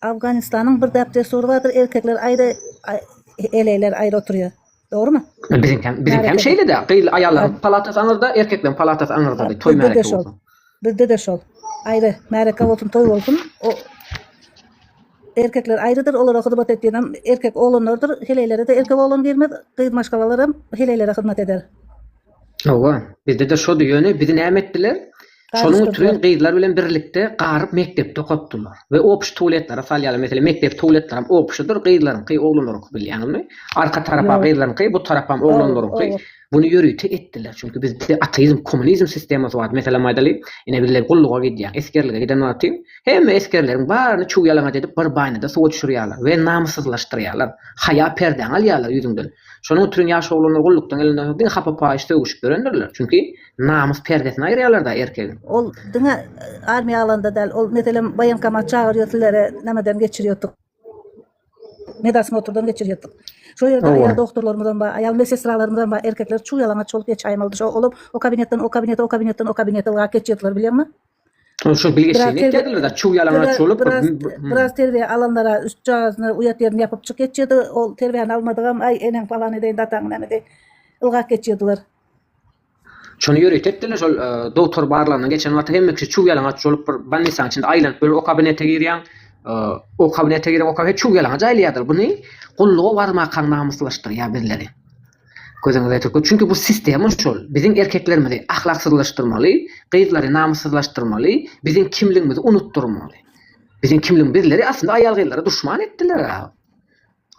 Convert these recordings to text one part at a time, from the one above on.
Afganistanyň bir däp dessury bardyr erkekler aýry eleýler aýry oturýar dogrymy. Biziňkäm biziňkäm şeýle-de gyzly aýallaryň palatasy aňyrda erkekleriň palatasy aňyrdadyr toý märeke bolsa. Bizdede şol aýry märeke bolsun toý bolsun o erkekler aýrydyr olara hyzmat etýenem erkek oglanlardyr heleýlere-de erkek oglan girmez gyz maşgalalaram heleýlere hyzmat eder. Hawa, bizde-de şody, ýöne bizi näme etdiler? Şonuň üçin gyzlar bilen birlikde garyp mekdepde okatdylar we obşy tuwletlere salýarlar. Meselem, mekdep tuwletlerem obşydyr, gyzlaryňky, oglanlaryňky bilýäňizmi? Arka tarapa gyzlaryňky, bu tarapam oglanlaryňky. Buny ýörite etdiler, çünki bizde ateizm, kommunizm sistemasy bar. Meselem aýdalyň, ine bizler gulluga gidýäň, esgerlige giden wagty hemme esgerleriň baryny çuw ýalaňaç edip bir baýnada suwa düşürýärler we namyssyzlaşdyrýarlar. Haýa perdäňi alýarlar ýüzüňden. Şonuň üçin ýaş oglanlar gullukdan elinde soň diňe hapa-paýyş sögüşip ýörendirler. Çünki namys perdesini aýyrýarlar-da erkegiň. Ol diňe armiýa alanda däl, ol meselem woýenkomat çagyrýar sizleri nämeden geçirýärdik, medosmotrdan geçirýärdik. Şo ýerde aýal dogtorlarymyzam bar, aýal medsestralarymyzam bar, erkekler çuw-ýalaňaç bolup geçäýmeli-de, şo olam o kabinetden o kabinete, o kabinetden o kabinete ylgap geçýärdiler bilýäňmi? Şu bilgi şeýle etýärdiler da, çuw ýalaňaç bolup. Biraz terbiýe alanlara üst çagasyny uýat ýerini ýapyp çyk geçýärdi. Ol terbiýäni almadygam, aý eneň falan edeýin, dataň näme edeýin. Ylgap geçýärdiler. Şony ýörite etdiler, şol dogtor barlagyna geçen wagty hemme kişi çuw ýalaňaç bolup bir bannisaň içinde aýlanyp bir o kabinete girýäň. O kabinete girip, o kabinete çuw ýalaňaç aýlaýardylar. Buny gulluga barmakaň namyslaşdyrýar bizleri. Gözüňiz aýdyk bol, çünki bu sistema şol, biziň erkeklerimizi ahlaksyzlaşdyrmaly, gyzlary namyssyzlaşdyrmaly, biziň kimligimizi unutdyrmaly. Biziň kimligimiz, bizleri aslynda aýal-gyzlara duşman etdiler.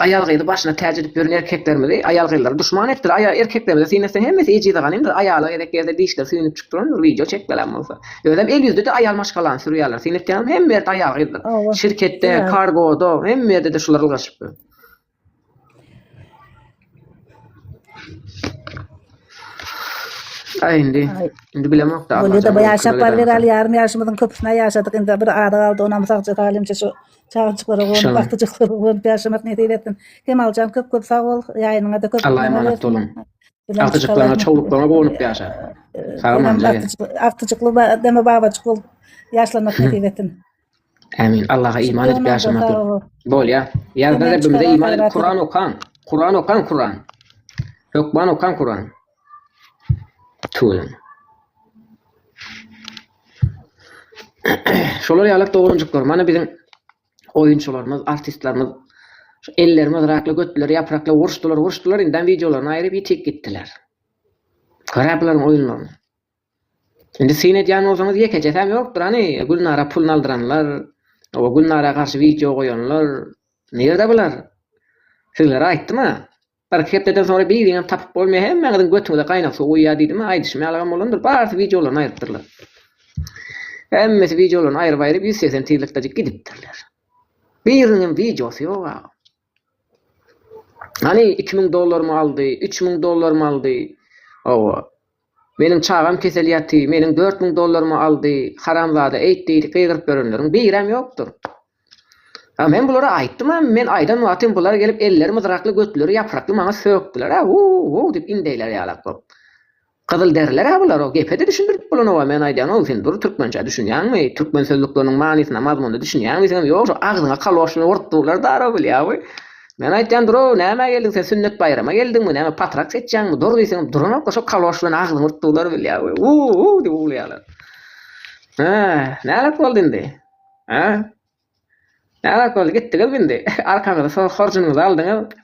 Aýal-gyzy başyna täç edip ýören erkeklerimizi aýal-gyzlara duşman etdiler. Aýal erkeklerimize syn etseň hemmesi ejize ganymdyr. Aýala gezek gelse dişleri süýnüp çykyp durandyr, wideo çekmeläm bolsa. Özem el ýüzde-de aýal maşgalany sürýärler. Syn etýäňmi hemme ýerde aýal-gyzdyr. Şirketde, kargoda, hemme ýerde-de şular ylgaşypdyr. Ay indi. Ay. Indi bilemok da. Bolýa da bu ýaşap bar bereli ýarym ýaşymyzyň köpüsine ýaşadyk indi bir ada galdy onam sagja talimçe şu çagajyklara gonup Şaban. wagty çyksa gonup ýaşamak nesip etsin. Kemaljan köp köp sag bol ýaýynyňa da köp. Allah'a emanet olun. Agtyjyklaryňa çowluklaryňa gonup ýaşa. Sag bol. Agtyjykly deme babajyk bol. Ýaşlanmak nesip etsin. Ämin. Allaha iman edip ýaşamak. Bolýa. Ýazda Rabbimize iman edip Kuran okaň. Kuran okaň Kuran. Hökman okaň Kuran. Tuýun. Şolar ýalak dogranjyklar. Mana biziň oýunçylarymyz, artistlerimiz şu ellerimi rakla götleri ýaprakla urşdylar, urşdylar, indem wideolaryny aýryp ýitik gitdiler. Garapylaryň oýunlaryny. Indi syn edýän bolsaňyz ýekejesäm ýokdur hany Gülnara puluny aldyranlar we Gülnara garşy wideo goýanlar nirde bular sizlere aýtdyma birki hepdeden soňra biriňem tapyp bolmaýa hemmäňiziň götüňize gaýnak suw guýýa diýdima aýdyşym ýalygam bolandyr barsy wideolaryny aýrypdyrlar hemmesi wideolaryny aýryp aýryp ýüz segsen tizlikdajyk gidipdirler biriniňem wideosy ýok agam. Hany iki müň dollarymy aldy, üç müň dollarymy aldy. Hawa. Meniň çagam kesel ýaty, meniň dört müň dollarymy aldy, haramzada eýt diýdi, gygyryp ýörenleriň biram ýokdur. A men bulara aýtdym a, men aýdan wagtym bular gelip elleri myzrakly götleri ýaprakly maňa sökdiler a, wu-wu diýip indeýler ýalak bolup. Gyzyl deriler-ä bular-ow gepe-de düşündirip bolanow-a men aýdýan-ow sen dur türkmençä düşünýäňmi türkmen sözlükleriniň manysyna mazmuna düşünýäňmi seňem ýok şu agzyňa kaloşny urup durlar darow bilýäňmi men aýtýan dur-ow nämä geldiň sen sünnet baýrama geldiňmi näme patrak seçýäňmi dur diýseňem duranok-a şo kaloşlany agzyňa urup durlar bilýäňmi uu-uu diýip uwlaýarlar hä nälet boldy indi hä Näzak boldy gitdiňizmi indi? Arkaňyzy soň horjunyňyzy aldyňyz.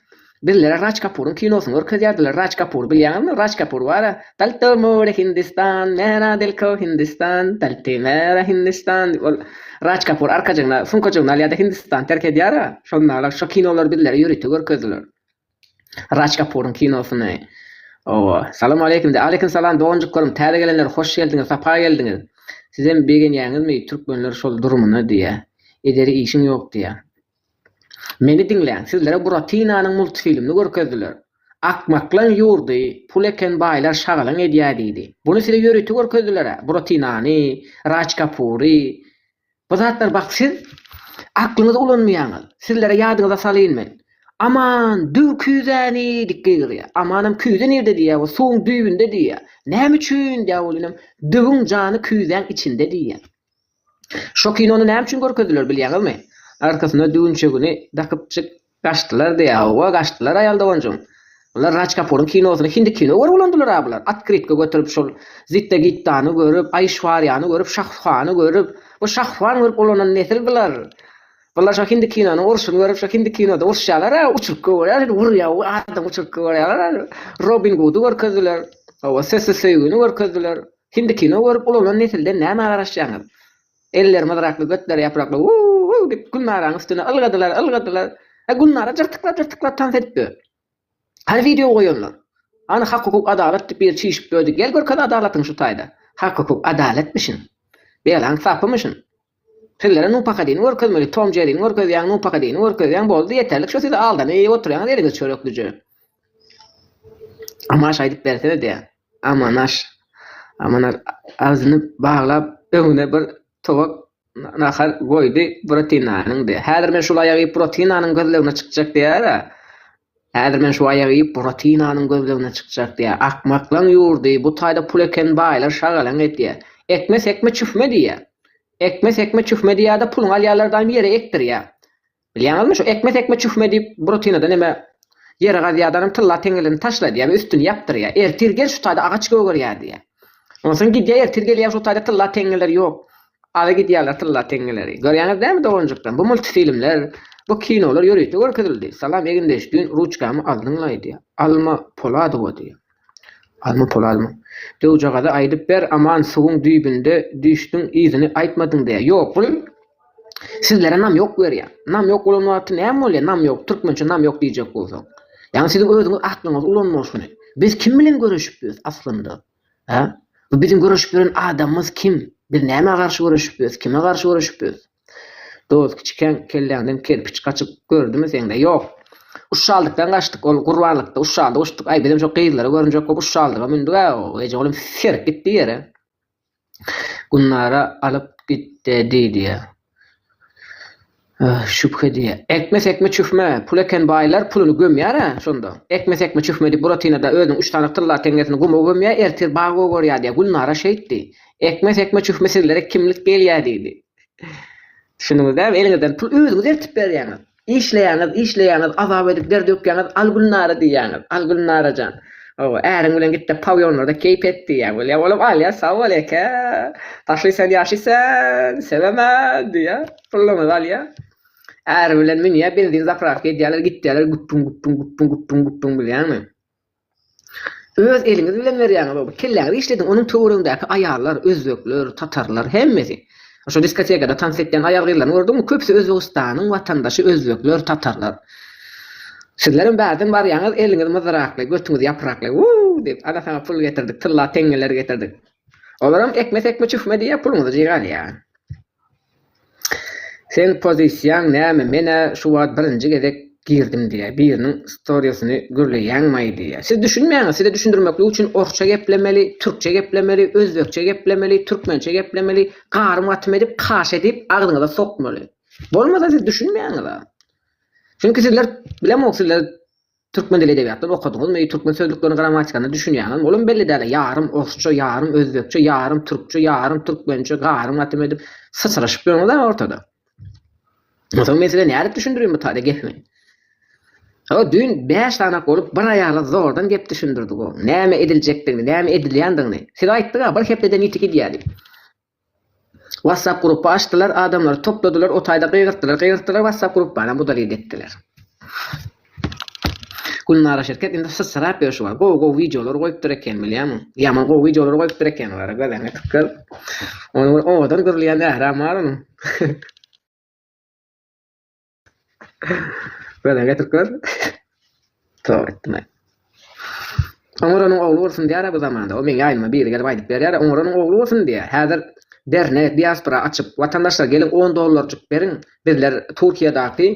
Bizlere Raj Kapuryň kinosyny görkezýärdiler. Raj Kapur bilýäňizmi? Raj Kapur bar-a, Dal to more Hindistan, mera dil ko Hindistan, dal to mera Hindistan diýip, ol Raj Kapur arkajygyna, suňkajygyny alýar-da Hindistany terk edýär-a. Şonda-da şo kinolary bizlere ýörite görkezdiler. Raj Kapuryň kinosyny oba. Salam aleýkum de. Aleýkum salam doganjyklarim täze gelenler hoş geldiňiz sapa geldiňiz. Sizem begenýäňizmi türkmenler şol durumyny diýä. Ederi işiň ýok diýä. Meni diňläň sizlere Buratinanyň multfilmini görkezdiler. Akmaklaň ýurdy pul eken baýlar şagalaň edýä diýdi. Buny size ýörite görkezdilerä Buratinany, Raj Kapury. Bu zatlar bak siz aklyňyzy ulanmaýaňyz. Sizlere ýadyňyza salyn men. Aman, düw küýzäni diýip gygyrýar. Amanam küýze nirde diýýär, bu suwuň düýbünde diýýär. Näme üçin diýýär ol inim, düwüň jany küýzäň içinde diýýär. Şo kinony näme üçin görkezdiler bilýäňizmi? Arkasynda düwünçegini dakypjyk Gaçdylar diýýä howwa gaçdylar aýal doganjygym. Bular Raj Kapuryň kinosyny hindi kino görüp ulandylar-a bular. Otkrytka göterip şol Zitda Gittany görüp, Aýşwarýany görüp, Şahruhany görüp. Bu Şahruhan görüp ulanan nesil bular. Bular şo hindi kinonyň urşuny görüp şo hindi kinoda urşýalar-a uçurtga görýär şeýdip urýar we adam uçurtga görýärler-a şeýdip. Robin Gudy görkezdiler. Howwa sessiz söýgini görkezdiler. Hindi kino görüp ulanan nesilden nämä garaşýaňyz. Eller myzrakly, götleri ýaprakly, Wuu-wuu! diýip, Gülnaraň üstüne ylgadylar, ylgadylar. Hä, Gülnara jyrtyklap-jyrtyklap tans edipdi. Hany wideo goýanlar? Hany hak-hukuk, adalat diýip biri çişip döredi. Gel görkez adalatyňy şu taýda. Hak-hukuk, adalatmyşyn. Belaň sapymyşyn. Sizlere nupakadini görkezmeli, Tom Jerrini görkezýäň, nupakadini görkezýäň, boldy, ýeterlik şu siz aldanyp oturýaňyz eliňiz çöreklije. Amaş aýdyp bersene diýýän. Amanaş. Amanaş agzyny baglap, öňüne bir towak nahar goýdy, Buratinanyňdy. Häzir men şul aýagy iýip Buratinanyň gözlegine çykjak diýär-ä. Häzir men şu aýagy iýip Buratinanyň gözlegine çykjak diýär. Akmaklaň ýurdy, bu taýda pul eken baýlar şagalaň edýär. Ekme sekme çüfme diýýär. Ekme sekme çüfme diýýär-de, puluňy alýarlar daýym ýere ekdirýär. Bilýäňizmi, şu ekme tekme çühme diýip, brutinadan eme ýeri gazýardanam tylla teňňelini taşla diýýär we üstüni ýapdyrýar. Ertir gel, şu taýda agaç gögerýär diýýär. Ondan soň gidýär, ertir gelýär, şu taýda tylla teňňeler ýok. Aza gidýärler tylla teňňeleri. Görýäňiz dälmi doganjyklar, bu multfilmler, bu kinolar ýörite görkezildi. Salam Egindeş, düýn ruçkamy aldyňlaý diýýär. Alma Poladowa diýýär. Azmy pul azmy. Döwjagaza aýdyp ber aman suwuň düýbünde düýşdüň yzyny aýtmadyň diýýär. Ýok bul sizlere namýok berýär. Namýok bolan wagty näme bolýar namýok türkmençe namýok diýjek bolsaň. Ýagny siziň özüňiz aklyňyzy ulanmaň şuny. Biz kim bilen göreşip ýörüs aslynda? Hä? Bu biziň göreşip ýören adamymyz kim? Biz nämä garşy göreşip ýörüs? Kime garşy göreşip ýörüs? Dost kiçikäň kelläňden kerpiç gaçyp gördümi seňde? Ýok. Uşşaldykdan gaçdyk. Ol gurbanlykda uşşaldy uçduk. Aý, bizem şo gyzlary görünjek bolup uşşaldyga mündük-ä. Ejegulim serip gitdi ýere. Gülnara alyp gitde diýdiýä. Şübhe diýýä. Ekme-sekme çühme. Pul eken baýlar puluny gömýär-ä şonda. Ekme-sekme çühme diýip Buratinada özüniň üç sany tylla teňňesini guma gömýär, ertir bag gogarýar diýýär. Gülnara şeýtdi. Ekme sekme çühme sizlere kimlik gelýä diýdi. Düşündiňizdämi eliňizden pul özüňiz eltip berýäňiz. Işleýäňiz işleýäňiz azap edip der dökýäňiz al Gülnara diýýäňiz al Gülnarajan hawa äriň bilen gitde pawýonlarda keýp et diýýä bolýa olam alýa sag bol eke paşly sen ýaşy sen sebeme diýýä pulluňyzy alýa äri bilen münýä benzin zapravka edýäler gitýäler güpbüň güpbüň güpbüň güpbüň güpbüň bilýäňmi Öz eliňiz bilen berýäňiz o bir kelläňizi işlediň onuň töweregindäki aýallar özbekler tatarlar hemmesi şo diskotekada tans etýän aýal gyzlaryny gördüňmi köpüsi özbegistanyň watandaşy özbekler tatarlar sizlerem bärden barýaňyz eliňiz myzyrakly götüňiz ýaprakly wuu diýip ana saňa pul getirdik tylla teňňeler getirdik olaram ekme sekme çühme diýýä puluňyzy jygarýa. Seň pozisiýaň näme menä şu wagt birinji gezek girdim diýýä biriniň storiesini gürleýäňmaý diýýä siz düşünmäňiz size düşündirmeklik üçin orsça geplemeli türkçe geplemeli özbekçe geplemeli türkmençe geplemeli garym gatym edip kaş edip agzyňyza sokmaly bolmasa siz düşünmäňiza çünki sizler bilemok sizler Türkmen dili edebiýatdan okadyňyzmy? Türkmen sözlükleriniň grammatikasyna düşünýäňizmi? Olam belli däl-a, ýarym orsça, ýarym özbekçe, ýarym türkçe, ýarym türkmençe, garym latym edip syçraşyp ýörüňiz-ä ortada. Onsoň men size nädip düşündireyim bu taýda gepimi? Hawa, düýn bäş sany bolup bir aýala zordan gep düşündirdik-ow. Näme ediljekdigini, näme edilýändigini. Siz aýtdyň-a, bir hepdede niti gidýär diýip. Whatsapp grupba açdylar adamlary topladylar otaýda gygyrtdylar gygyrtdylar whatsapp grupbanam udalit etdiler. Gülnara şirket indi syssyrap ýörşi bar gowy gowy wideolar goýupdyr eken bilýämiň ýaman gowy wideolar goýupdyr eken gara gözeňe tykgyr ony bir owadan gürleýän ähram bar onuň. Gören getirip gör. Tog etme. Oňuranyň ogly bolsun diýär bu zamanda. O meň ýaýnyma biri gelip aýdyp berýär. Oňuranyň ogly bolsun diýär. Häzir dernek, diaspora açyp, watandaşlar geliň on dollarjyk beriň, bizler Türkiýedaky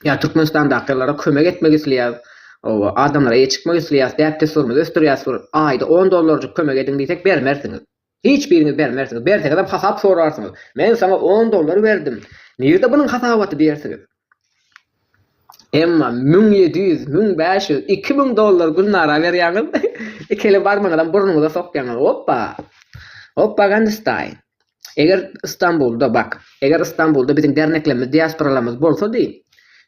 ýa Türkmenistandakylara kömek etmek isleýäs. Owa, adamlara eýe çykmak isleýäs, däp-dessurymyzy ösdürýäs. Aýda on dollarjyk kömek ediň diýsek bermersiňiz. Hiç biriňiz bermersiňiz, berseňizem hasap sorarsyňyz. Men saňa on dollar berdim. Nirde bunuň hasabaty diýersiňiz. Emma müň ýedi ýüz, müň bäş ýüz, iki müň dollar Gülnara berýäňiz. Ikili barmaňyzam burnuňyza sokýaňyz. Oppa! Oppa Gandystaý! Eger Stambulda, bak, eger Stambulda biziň derneklerimiz, diasporalarymyz bolsady,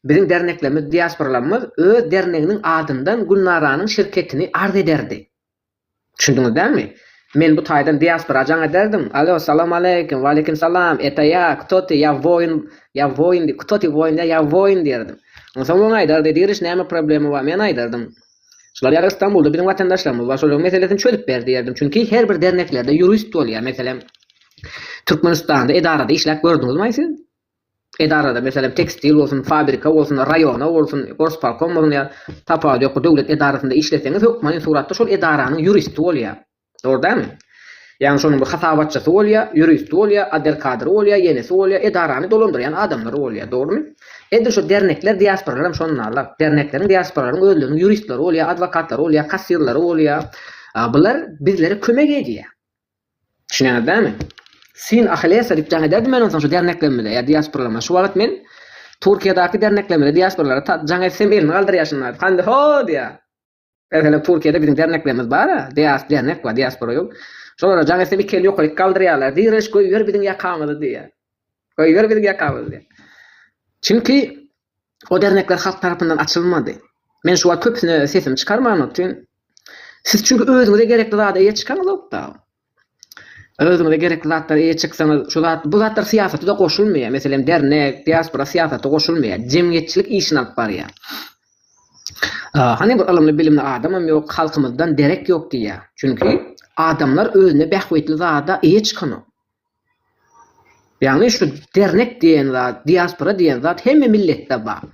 biziň derneklerimiz, diasporalarymyz öz derneginiň adyndan Gülnaranyň şirketini arz ederdi. Düşündiňiz dälmi? Men bu taýdan diaspora jaň ederdim. Alo, salam aleýkim, waleýkim salam, eta ýa, kto ty, ýa woýn, ýa woýn diý, kto ty, woýn ýa, ýa woýn diýerdim. Onsoň oň aýdardy, Diriş, näme problema bar? Men aýdardym, Şular ýaly Istanbulda biziň watandaşlarymyz bar, şolaryň meselesini çözüp ber diýerdim. Çünki her bir derneklerde ýurist bolýar. Meselem, Türkmenistanda edarada işläp gördüňizmaý siz? edarada, meselem, tekstil bolsun, fabrika bolsun, raýona bolsun, gorspolkom bolsun ýa tapawudy ýok, döwlet edarasynda işleseňiz, hökmany suratda şol edaranyň ýuristi bolýar. Dogry dälmi? Ýagny şonuň bir hasabatçysy bolýar, ýuristi bolýar, adelkadry bolýar, ýenesi bolýar, edarany dolandyrýan adamlary bolýar. Dogrymy? Edil şu dernekler, diasporalar hem şondan aglar. Dernekleriň, diasporalaryň özleriniň ýuristleri bolýar, adwokatlary bolýar, kassirleri bolýar. Bular bizlere kömek edýär. Düşünýäňiz dämi? Syn Ahillesa diýip jaň ederdim men onsoň şu derneklerimize ýa diasporalarymyza. Şu wagt men Türkiýedäki derneklerimize, diasporalara jaň etsem elini galdyrýaşyn aýdyp, hany ho diýýär. Meselem Türkiýede biziň derneklerimiz bar-a, dias dernek bar, diaspora ýok. Şolara jaň etsem iki eli ýokaryk galdyrýarlar, Direnç göýber biziň ýakamyzy diýýär. Goýber biziň ýakamyzy diýip. Çünki o dernekler halk tarapyndan açylmady. Men şu wagt köpüsine sesimi çykarman otyryn. Siz çünki özüňize gerekli zada eýe çykaňyzok-da. Özüňize gerekli zatlara eýe çyksaňyz, şu zat, bu zatlar syýasata-da goşulmaýar. Meselem, dernek, diaspora syýasata goşulmaýar. Jemgyýetçilik işini alyp barýar. Hany bir ylymly-bilimli adamam ýok, halkymyzdan derek ýok diýýär. Çünki adamlar özüne bähbitli zada eýe çykanok. Ýagny şu dernek diýen zat, diaspora diýen zat hemme milletde bar.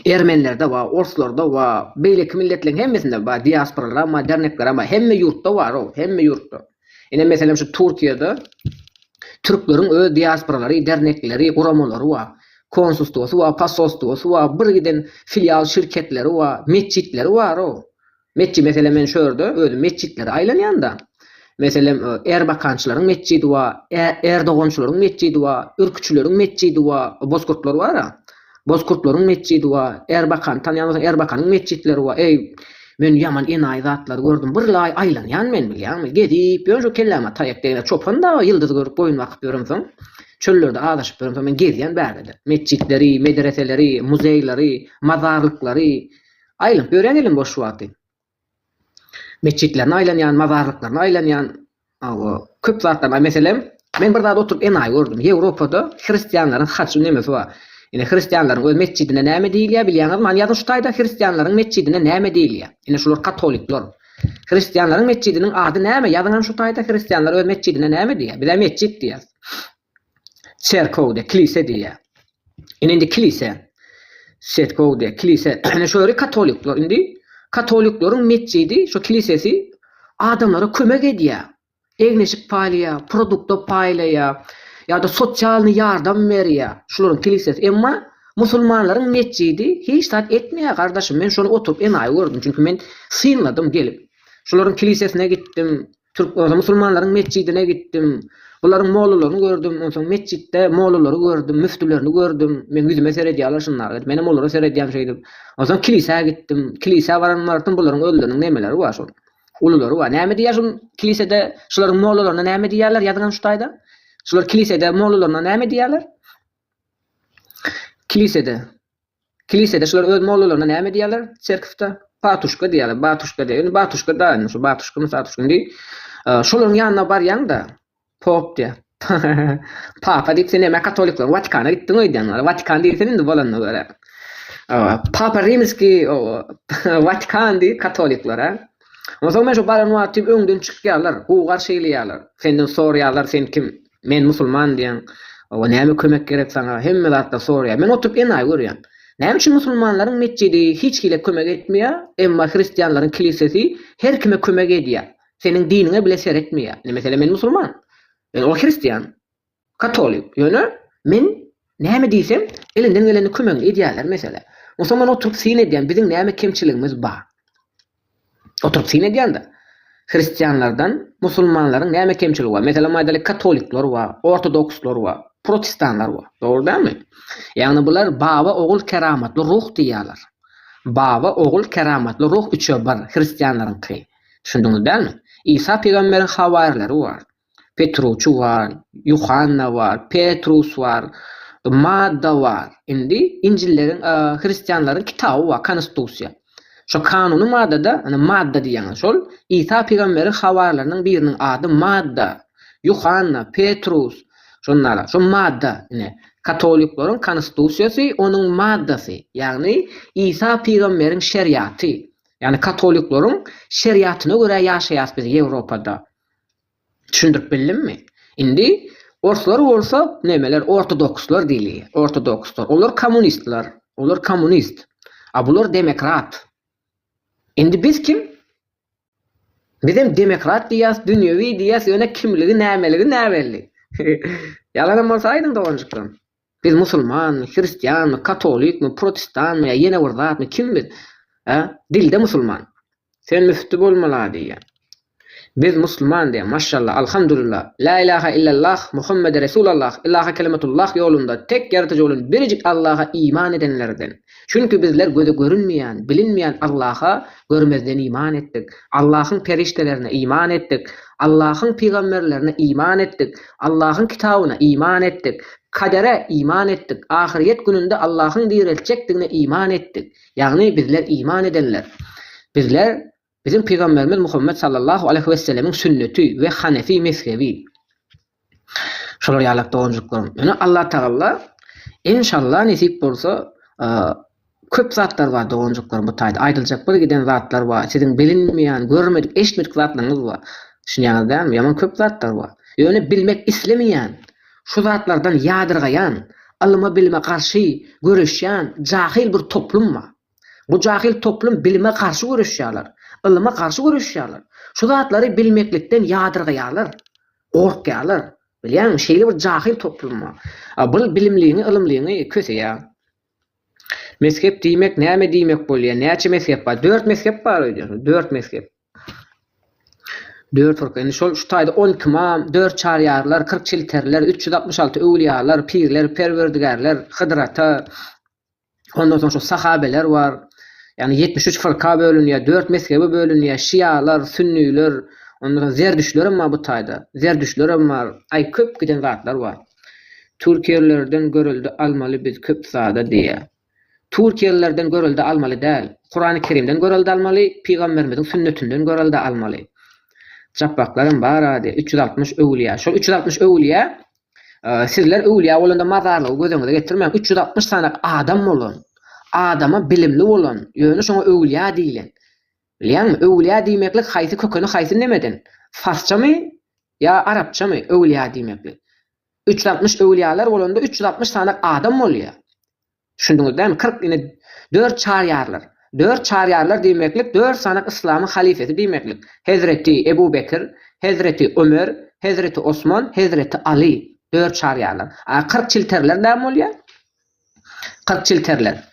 Ermenilerde bar, orslarda bar, beýleki milletleriň hemmesinde bar, diasporalaram bar, derneklerem bar. Hemme ýurtda bar ol, hemme ýurtda. Ine, meselem, şu Türkiýede türkleriň öz diasporalary, dernekleri, guramalary bar. Konsulstwosy bar, posolstwosy bar, birgiden filial şirketleri bar, metjitleri bar-ow. Metji meselem men şu ýerde özüm metjitlere aýlanýanda, meselem erbakançylaryň metjidi bar, erdogançylaryň metjidi bar, ürküçileriň metjidi bar, bozkurtlar bar-a, bozkurtlaryň metjidi bar, erbakany tanýan bolsaň erbakanyň metjitleri bar, eý, men ýaman enaýy zatlary gördüm, birlaý aýlanýan men bilýäňmi, gezip ýörün şu kelläme taýak degende çopan dagy ýyldyzy görüp boýun bakyp ýöremsoň, çöllerde azaşyp ýöremsoň men gezýän bärde-de, metjitleri, medreseleri, muzeýleri, mazarlyklary, Aýlanyp ýöräýeliň boş wagty. Metjitlerine aýlanýan, mazarlyklaryna aýlanýan, hawa, köp zatlar bar. Meselem, men bir zat oturyp enaýy gördüm. Ýewropada hristianlaryň haçy nemesi bar. Ine, hristianlaryň öz metjidine näme diýilýär bilýäňizmi? Hany ýazyň şu taýda hristianlaryň metjidine näme diýilýär? Ine, şular katolikler. Hristianlaryň metjidiniň ady näme? Ýazyň hany şu taýda hristianlar öz metjidine näme diýýär? Biz-ä metjit diýýäs. Çerkowde, kilise diýýär. Ine indi kilise, çerkowde, kilise. Ine şu ýeri katolikler indi. Katolikleriň metjidi, şu kilisesi adamlara kömek edýär. Egneşik paýlaýar, produkta paýlaýar ýa-da sosialnyý ýardam berýär. Şularyň kilisesi. Emma musulmanlaryň metjidi hiç zat etmeýär gardaşym. Men şony oturyp enaýy gördüm. Çünki men synladym gelip. Şularyň kilisesine gitdim. Türk bolsa musulmanlaryň metjidine gitdim. Bularyň mollalaryny gördüm. Onsoň metjitde mollalary gördüm, müftülerini gördüm. Meň ýüzüme seredýärler şunlar. Menem olara seredýän şeýdip. Onsoň kilisä gitdim. Kilisä baran wagtym bularyň özleriniň nemeleri bar şol. Ululary bar. Näme diýýär şol kilisede şularyň mollalaryna näme diýýärler ýazyňam şu taýda. Şular kilisede mollalaryna näme diýýärler? Kilisede. Kilisede şular öz mollalaryna näme diýýärler? Çerkifde patuşka diýýärler, batuşka diýýär. Indi batuşka daýy indi şu batuşka mı satuşka indi şolaryň ýanyna barýaň-da, pop diýýär. Papa diýip sen näme katolikler Watikana gitdiň öýdýän wala. Watikan diýil sen indi bolanda görä. Papa Rimskiý Watikan diýip katolikler-ä. Onsoň men şu baran wagty öňden çykýarlar, gugar şeýleýärler. Senden soraýarlar sen kim? Men musulman diýen. Oba näme kömek gerek saňa? Hemme zatda soraýar. Men oturyp enaýy görýän. Näme üçin musulmanlaryň metjidi hiç kile kömek etmeýär, emma hristianlaryň kilisesi her kime kömek edýär. Seniň diniňe bile seretmeýär. Ne meselem men musulman. Men ol hristian. Katolik. Ýöne men näme diýsem elinden geleni kömegini edýärler mesele. Musulman oturyp syn edýän biziň näme kemçiligimiz bar. Oturyp syn edýän-de, hristianlardan musulmanlaryň näme kemçiligi bar? Meselem aýdalyk, katolikler bar, ortodokslar bar, protestanlar bar. Dogry dälmi? Ýagny bular Baba, Ogul, Keramatly Ruh diýýärler. Baba, Ogul, Keramatly Ruh üçe bir, hristianlaryňky. Düşündiňiz dälmi? Isa pygamberiň hawaryleri bar. Petruçy bar, Ýuhanna bar, Petrus bar, Madda bar. Indi Injilleriň hristianlaryň kitaby bar, Konstusiýa. Şo kanuny maddada, ine Madda diýýän şol, Isa pygamberiň habarlarynyň biriniň ady Madda, Ýuhanna, Petrus, şunlara. Şo Madda, ine, katoliklaryň Konstusiýasy, onuň Maddasy, ýagny Isa pygamberiň şeriaty. Ýagny katoliklaryň şeriatyna görä ýaşaýas biz Ýewropada. Düşündirip bildimmi? Indi orslar bolsa nemeler ortodokslar diýli, ortodokslar. Olar kommunistler, olar kommunist. A bular demokrat. Indi biz kim? Bizem demokrat diýýäs, dünýewi diýýäs, ýöne kimligi, nämeligi näbelli. Ýalanam bolsa aýdyň doganjyklarym. Biz musulmanmy, hristianmy, katolikmi, protestanmy ýa ýene bir zatmy, kim biz? Hä? Dilde musulman. Sen müfti bolmala diýýä. Biz musulman diýýä, maşşalla, alhamdulillah, la ilaha illallah, Muhammede resulallah, ilaha kelimatullah ýolunda tek ýaratyjy bolan birjik Allaha iman edenlerden. Çünki bizler göze görünmeýän, bilinmeýän Allaha görmezden iman etdik. Allahyň perişdelerine iman etdik. Allahyň pygamberlerine iman etdik. Allahyň kitabyna iman etdik. Kadere iman etdik. Ahyrýet gününde Allahyň direltjekdigine iman etdik. Ýagny bizler iman edenler. Bizler Biziň Pygamberimiz Muhammet sallallahu aleýhi wesselemiň sünneti we hanefi mezhebi. Şolar ýalak doganjyklaryň. Ýöne Allatagalla enşalla nesip bolsa köp zatlar bar doganjyklaryň bu taýda aýdyljak bir giden zatlar bar. Siziň bilinmeýän, görmedik, eşitmedik zatlaryňyz bar. Düşünýäňiz dälmi? Ýaman köp zatlar bar. Ýöne bilmek islemeýän, şu zatlardan ýadyrgaýan, ylyma-bilime garşy göreşýän jahyl bir toplum bar. Bu jahyl toplum bilime garşy göreşýärler, ylyma garşy göreşýärler. Şu zatlary bilmeklikden ýadyrgaýarlar, gorkýarlar. Bilýäňmi, şeýle bir jahyl toplum bar. A bul bilimliňi, ylymlyňy köseýär. Mezhep diýmek näme diýmek bolýar? Näçe mezhep bar? Dört mezhep bar öýdýärsiň. Dört mezhep. Dört firka. Indi şol şu taýda on iki imam, dört çaryýarlar, kyrk çilteriler, üç ýüz altmyş alty öwlüýalar, pirler, perwerdigärler, Hydyr ata, Ondan soň şu sahabeler bar. Ýagny 73 fyrka bölünýär, 4 mezhebe bölünýär. Şialar, sünniler, ondan soň zerdüştler hem bar bu taýda. Zerdüştler hem bar. Aý köp giden zatlar bar. Türkiýelilerden görelde almaly biz köp zada diýýär. Türkiýelilerden görelde almaly däl. Kurany Kerimden görelde almaly, pygamberimiziň sünnetinden görelde almaly. Japbaklar hem bar ady, 360 öwlüýä. Şol 360 öwlüýä Sizler öwlüýä bolanda mazarlygy göz öňüňize getirmäň, üç ýüz altmyş sany adam bolan, adama bilimli bolan, ýöne şoňa öwlüýä diýilen. Bilýäňmi, öwlüýä diýmeklik haýsy kökeni haýsy nemeden? Farsçamy ýa arapçamy öwlüýä diýmeklik? Üç ýüz altmyş öwlüýäler bolanda üç ýüz altmyş sany adam bolýa. Düşündiňiz dämi kyrk ine dört çaryýarlar. Dört çaryýarlar diýmeklik dört sany yslamyň halifesi diýmeklik. Hezreti Ebu Bekir, Hezreti Ömer, Hezreti Osman, Hezreti Aly. Dört çaryýarlar. A kyrk çilterler näme bolýar? Kyrk çilterler.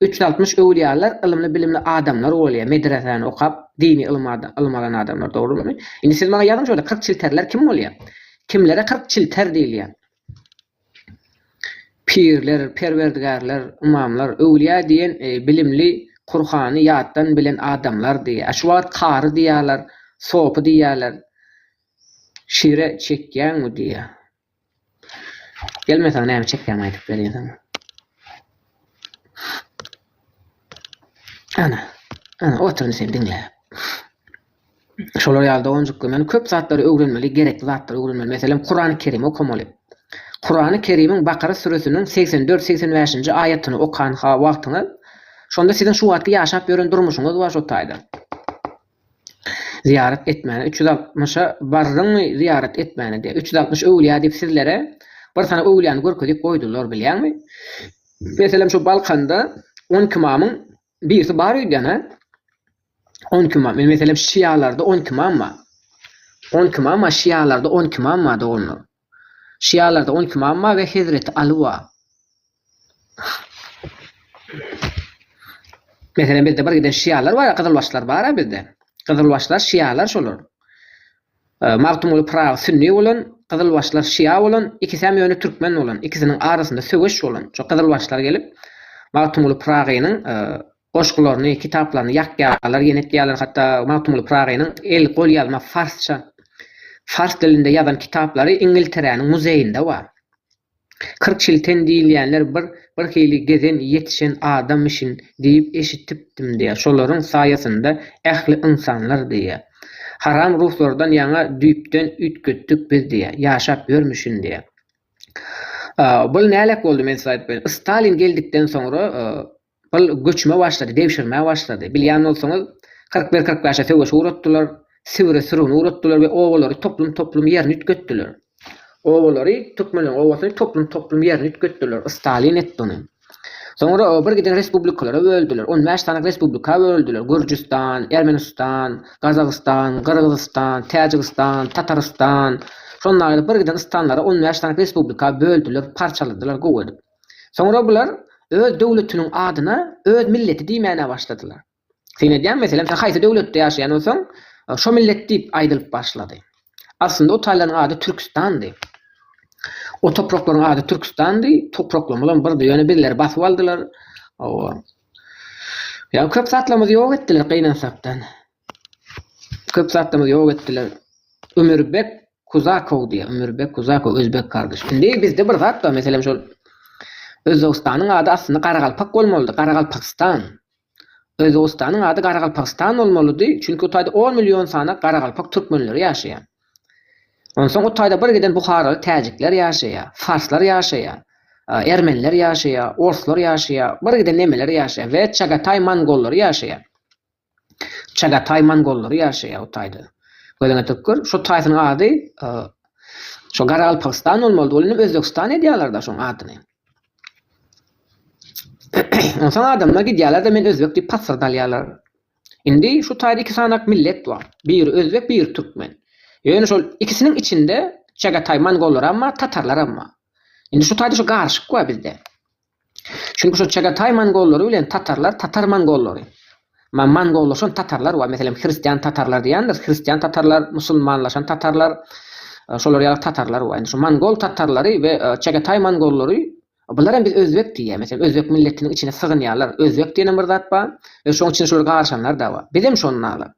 Üç ýüz altmyş öwlýalar ylymly-bilimli adamlar bolýa, medresäni okap, dini ylym ylym alan adamlar, dogrumy? Indi siz maňa ýazyň şu ýerde kyrk çilterler kim bolýa? Kimlere kyrk çilter diýilýä? Pirler, perwerdigärler, ymamlar, öwlýa diýen bilimli, Kurhany ýatdan bilen adamlar diýýä. A şu wagt kary diýýaler, sopy diýýäler. Şire çekýäňmi diýýä. Gelmeseň näme çekýäňmi aýdyp berýäseň. Ana, ana otur indi seni diňläp. Şolar ýaly doganjyklar men köp zatlary öwrenmeli, gerekli zatlary öwrenmeli. Meselem Kurany Kerim okamaly. Kurany Kerimiň Bakara süresiniň segsen dört, segsen bäşinji aýatyny okan ha wagtyňyz, şonda siziň şu wagtky ýaşap ýören durmuşyňyz bar şo taýdan. zyýarat etmäne üç ýüz altmyşa bardyňmy zyýarat etmäne diýýär üç ýüz altmyş öwülýä diýip sizlere bir sany öwülýäni görkezip goýdular bilýäňmi meselem şu balkanda on iki mamyň birisi bar öýdýänä on iki mam meselem şialarda on iki mam bar on iki mam bar şialarda on iki mam bar doganlar Şialarda on iki imam bar we Hezreti Aly bar. Meselem bizde bir giden şialar bar, gyzylbaşlar bar-a bizde. Gyzylbaşlar şialar şolar. E, Magtymguly Pyragy sünni bolan, gyzylbaşlar şia bolan, ikisem ýöne türkmen bolan. Ikisiniň arasynda söweş bolan. Şo gyzylbaşlar gelip Magtymguly Pyragynyň e, Goşgularyny, kitaplaryny ýakýarlar, ýenetýärler, hatda Magtymguly Pyragynyň el golýazma farsça, fars dilinde ýazan kitaplary Iňilteräniň muzeýinde bar. Kirkçilten diýilýänler bir birhili gezen, ýetişen adammişin diýip eşitipdim diýýär. Şolaryň saýasynda ähli ynsanlar diýýär. Haram ruhlardan ýaňa düýpden üýtgetdik biz diýýär. Ýaşap ýörmüşin diýýär. Bul nälet boldy men size aýdyp berin. Stalin geldikden soňra Ol göçmä başlady, degşirmä başlady. Bilýän bolsaňyz, kyrk bir-kyrk bäşe söweşi uratdylar, Sibire sürgüni uratdylar we obalary toplum-toplum ýerine üýtgetdiler. Obalary, türkmenleriň obasyny toplum-toplum ýerine üýtgetdiler. Stalin etdi ony. Soňra bir giden respublikalara böldüler. On bäş sany respublika böldüler, Gürjüstan, Ermenistan, Gazagystan, Gyrgyzystan, Täjigistan, Tatarystan, şonda ýaly bir giden stanlara on bäş sany respublika böldüler, parçaladylar gowy edip. Soňra bular öz döwletiniň adyna öz milleti diýmäne başladylar. Syn edýän, meselem, sen haýsy döwletde ýaşaýan bolsaň, şo millet diýip aýdylyp başlady. Aslynda o taýlaryň ady Türküstandy. O topraklaryň ady Türküstandy, topraklarymyzam birdi, ýöne bizleri basyp aldylar. Hawa. Ýa köp zatlarymyzy ýok etdiler gynansakdan. Köp zatlarymyzy ýok etdiler. Ömürbek Kuzakow diýýär. Ömürbek Kuzakow özbek gardaş. Indi bizde bir zat bar, meselem şol Özbegistanyň ady aslynda Garagalpak bolmalydy, Garagalpakystan. Özbegistanyň ady Garagalpakystan bolmalydy, çünki o taýda on million sany garagalpak türkmenleri ýaşaýar. Onsoň o taýda bir giden buharaly täjikler ýaşaýar, farslar ýaşaýar, ermeniler ýaşaýar, orslar ýaşaýar, bir giden nemeler ýaşaýar we çagataý mongollary ýaşaýar. Çagataý mongollary ýaşaýar bu taýda. Gözüňe tökgür, şu taýsynyň ady şo Gargalpagystan bolmalydy, ol indi Özbegistan edýärler-de şoň adyny. Onsoň adamlar gidýärler-de men özbek diýip pasyrdalýarlar. Indi şu taýda iki sanaak millet bar. Biri özbek, biri türkmen. Ýöne şol ikisiniň içinde Çagataý mongollaram bar, tatarlaram bar. Indi şu taýda şu garyşyk bar bizde. Çünki şo Çagataý mongollary bilen tatarlar tatar mongollary. Ma mongollaşan tatarlar bar, meselem, hristian tatarlar diýendir, hristian tatarlar, musulmanlaşan tatarlar, şolar ýaly tatarlar bar. Indi şu mongol tatarlary we Çagataý mongollary bular hem biz özbek diýýär, meselem, özbek milletiniň içine sygynýarlar. Özbek diýenem bir zat bar we şoň içine şolar garyşanlar-da bar. Bizem şondalar.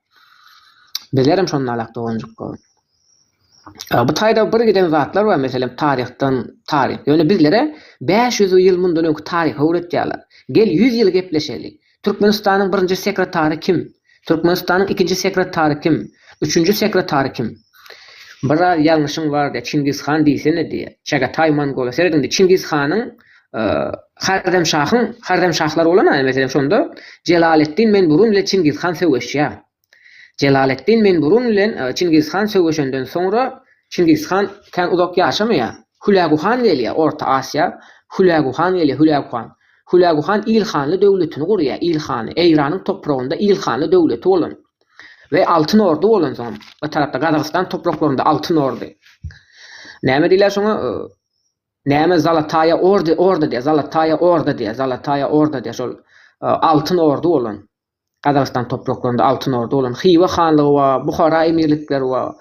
Bizlerem şondalak doganjyk gowy. Bu taýda bir giden zatlar bar, meselem, taryhdan taryh. Ýöne bizlere bäş ýüz ýyl mundan öňki taryhy öwretýärler. Gel, ýüz ýyl gepleşeli. Türkmenistanyň birinji sekretary kim? Türkmenistanyň ikinji sekretary kim? Üçünji sekretary kim? Biraz ýalňyşyň bar diýýär. Çingiz han diýsene diýýär. Çagataý mongola. Seret indi, Çingiz hanyň, Haremşahyň, Haremşahlar bolan-a, meselem, şonda Jelaleddin Menburun bilen Çingiz han söweşýär. Jelaleddin men burun bilen Çingiz han söweşenden soňra Çingiz han kän uzak ýaşamaýar. Hülägu han gelýär Orta Asiýa Hülägu han gelýär Hülägu han. Hülägu han ilhanly döwletini gurýar ilhanly Eýranyň topragynda ilhanly döwleti bolan we Altyn Orda bolan soň o tarapda Gazagystan topraklarynda Altyn Orda. Näme diýler şoňa näme Zalataýa Orda Orda diýer Zalataýa Orda diýer Zalataýa Orda diýer şol Altyn Orda bolan. Gazagystan topraklarynda Altyn Orda bolan Hywa hanlygy bar, Buhara emirlikleri bar.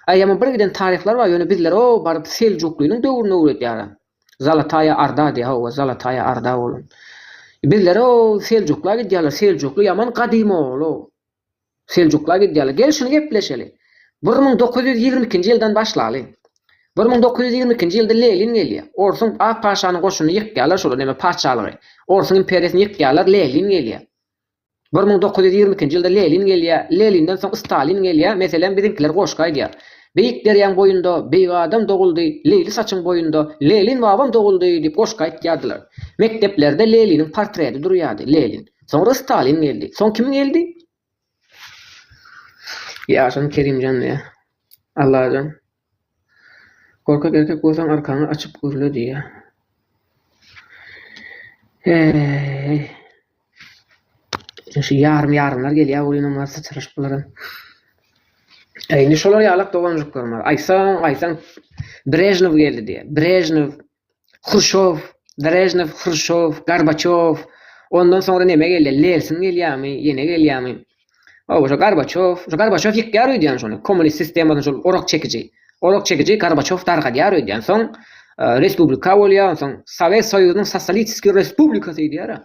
Aýama bir giden taryhlar bar, ýöne bizler o baryp Seljuklynyň döwrüne öwredýära. Zalataýa Arda diýýär, hawa, Zalataýa Arda bolan. Bizler o Seljukla gidýärler, Seljukly ýaman gadym ogul-o. Seljukla gidýärler. Gel şuny gepleşeli. Bir müň dokuz ýüz ýigrimi ikinji ýyldan başlaly. Bir müň dokuz ýüz ýigrimi ikinji ýylda Lelin gelýär. Orsuň ak paşanyň goşunyny ýykýarlar şol neme patyşalygy. Orsuň imperiýasyny ýykýarlar, Lelin gelýär. Bir müň dokuz ýüz ýigrimi ikinji ýylda Lenin gelýär. Leninden soň Stalin gelýär. Meselem, biziňkiler goşgy aýdýar. Beýik derýaň boýunda beýik adam doguldy, Leýli saçyň boýunda Lenin babam doguldy diýip goşgy aýtýardylar. Mekdeplerde Leniniň portreti durýardy. Lenin. Soňra Stalin geldi. Soň kim geldi? Ýaşaň Kerimjan diýýär. Allajan. Gorkak erkek bolsaň arkaňy açyp gürle diýýär. Heý. Şu ýarym ýarymlar gelýär welin olar syçraşyp bularam. Indi şolar ýalak doganjyklarym bar. Aýtsaň aýtsaň Brežnew geldi diýýär. Brežnew Hruşow, Brežnew, Hruşow, Gorbaçow, ondan soňra neme gelýär, Lelsin gelýärmi, ýene gelýärmi? Hawa, şo Gorbaçow, şo Gorbaçow ýykýar öýdýän şony, kommunist sistemany şol orak çekiji, orak çekiji Gorbaçow dargadýar öýdýän. Soň respublika bolýar, onsoň Sowet Soýuzynyň sosolitistik respublikasy öýdýär-ä.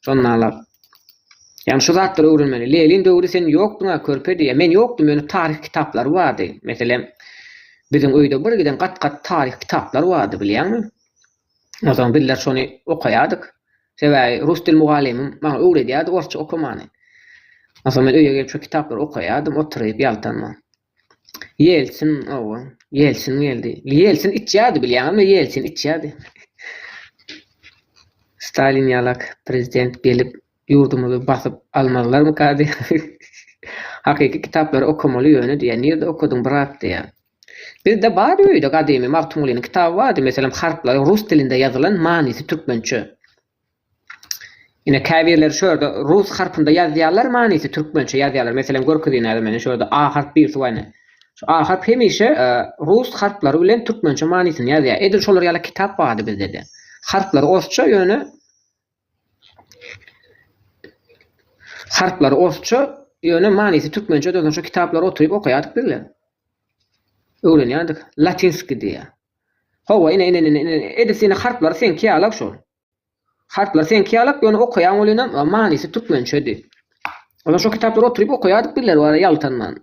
Şonda-lar. Ýagny şu zatlary öwrenmeli. Lenin döwri sen ýokduňa körpe diýýä. Men ýokdum ýöne taryh kitaplary bardy. Meselem biziň öýde bir giden gat gat taryh kitaplar bardy bilýäňmi? Onsoň bizler şony okaýardyk. Sebäbi rus dil mugallymym maňa öwredýärdi orsça okamany. Onsoň men öýe gelip şu kitaplary okaýardym oturyp ýaltanma. Ýelsin, owa, Ýelsin geldi. Ýelsin içýärdi, bilýäňizmi, Ýelsin içýärdi. Stalin ýalak prezident gelip, ýurdumyzy basyp almazlarmyka diýýär. Hakyky kitaplary okamaly ýöne diýýär. Nirde okadyň, brat diýýär. Bizde bardy öýde gadymy Magtymgulynyň kitaby bardy, meselem, harplaryň rus dilinde ýazylan, manysy türkmençe. Ine käbirleri şu ýerde rus harpynda ýazýarlar manysy türkmençe ýazýarlar meselem görkezýin häzir meni şu ýerde a harp birisi waýne şu a harp hemişe e, rus harplary bilen türkmençe manysyny ýazýar edil şolar ýaly kitap bardy bizdede harplary orsça ýöne harplary orsça ýöne manysy türkmençe dönsün şu kitaplary oturyp okaýardyk bizler öwrenýärdik latinski diýýär Hawa, ine, ine, ine, ine, edil seniň harplary seňki ýala-a şol. Harplary seňki ýala-a, ýöne okaýaň welinem, manysy türkmençedi. Olar şo kitaplary oturyp okaýardyk birleri bara ýaltanman.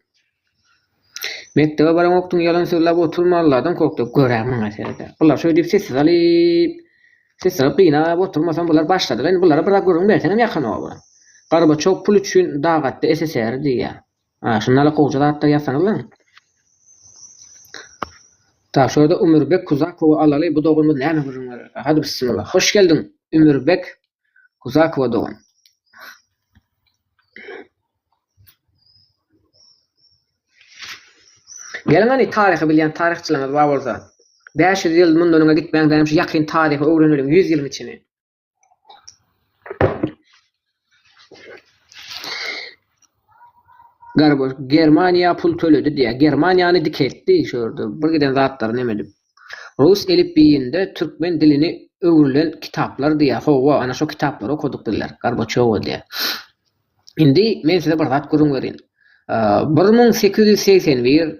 Mekdebe baraňokdyň, ýalan sözläp oturma, Alladan gork-da, gör-ä maňa seret-ä. Bular şeý diýip sessiz alyp, sessiz alyp gynap oturmasam, bular başladylar. Indi bulara bir zat gürrüň berseňem ýakanok-a bular. Gorbaçow pul üçin dag atdy SSR-i diýýär. A şundaly gowja zatlar ýazsaňyzlaň. Tak şurada Ümürbek Kuzakowy alaly bu doganymyz näme gürrüň bererka hadi bissimillah hoş geldiň Ümürbek Kuzakowa dogan. Geliň hany taryhy bilýän taryhçylaryňyz bar bolsa. Bäş ýüz ýyl mundan öňe gitmäň dänem şu ýakyn taryhy öwrenelim ýüz ýylyň içini. Garboş Germaniýa pul töledi diýýär. Germaniýany dikeltdi şu ýerde. Bir giden zatlar näme edip. Rus elipbiýinde türkmen dilini öwrülen kitaplar diýýär. Hawa, ana şu kitaplary okaduk diýler. Garboçowa diýýär. Indi men size bir zat gürrüň berin. 1881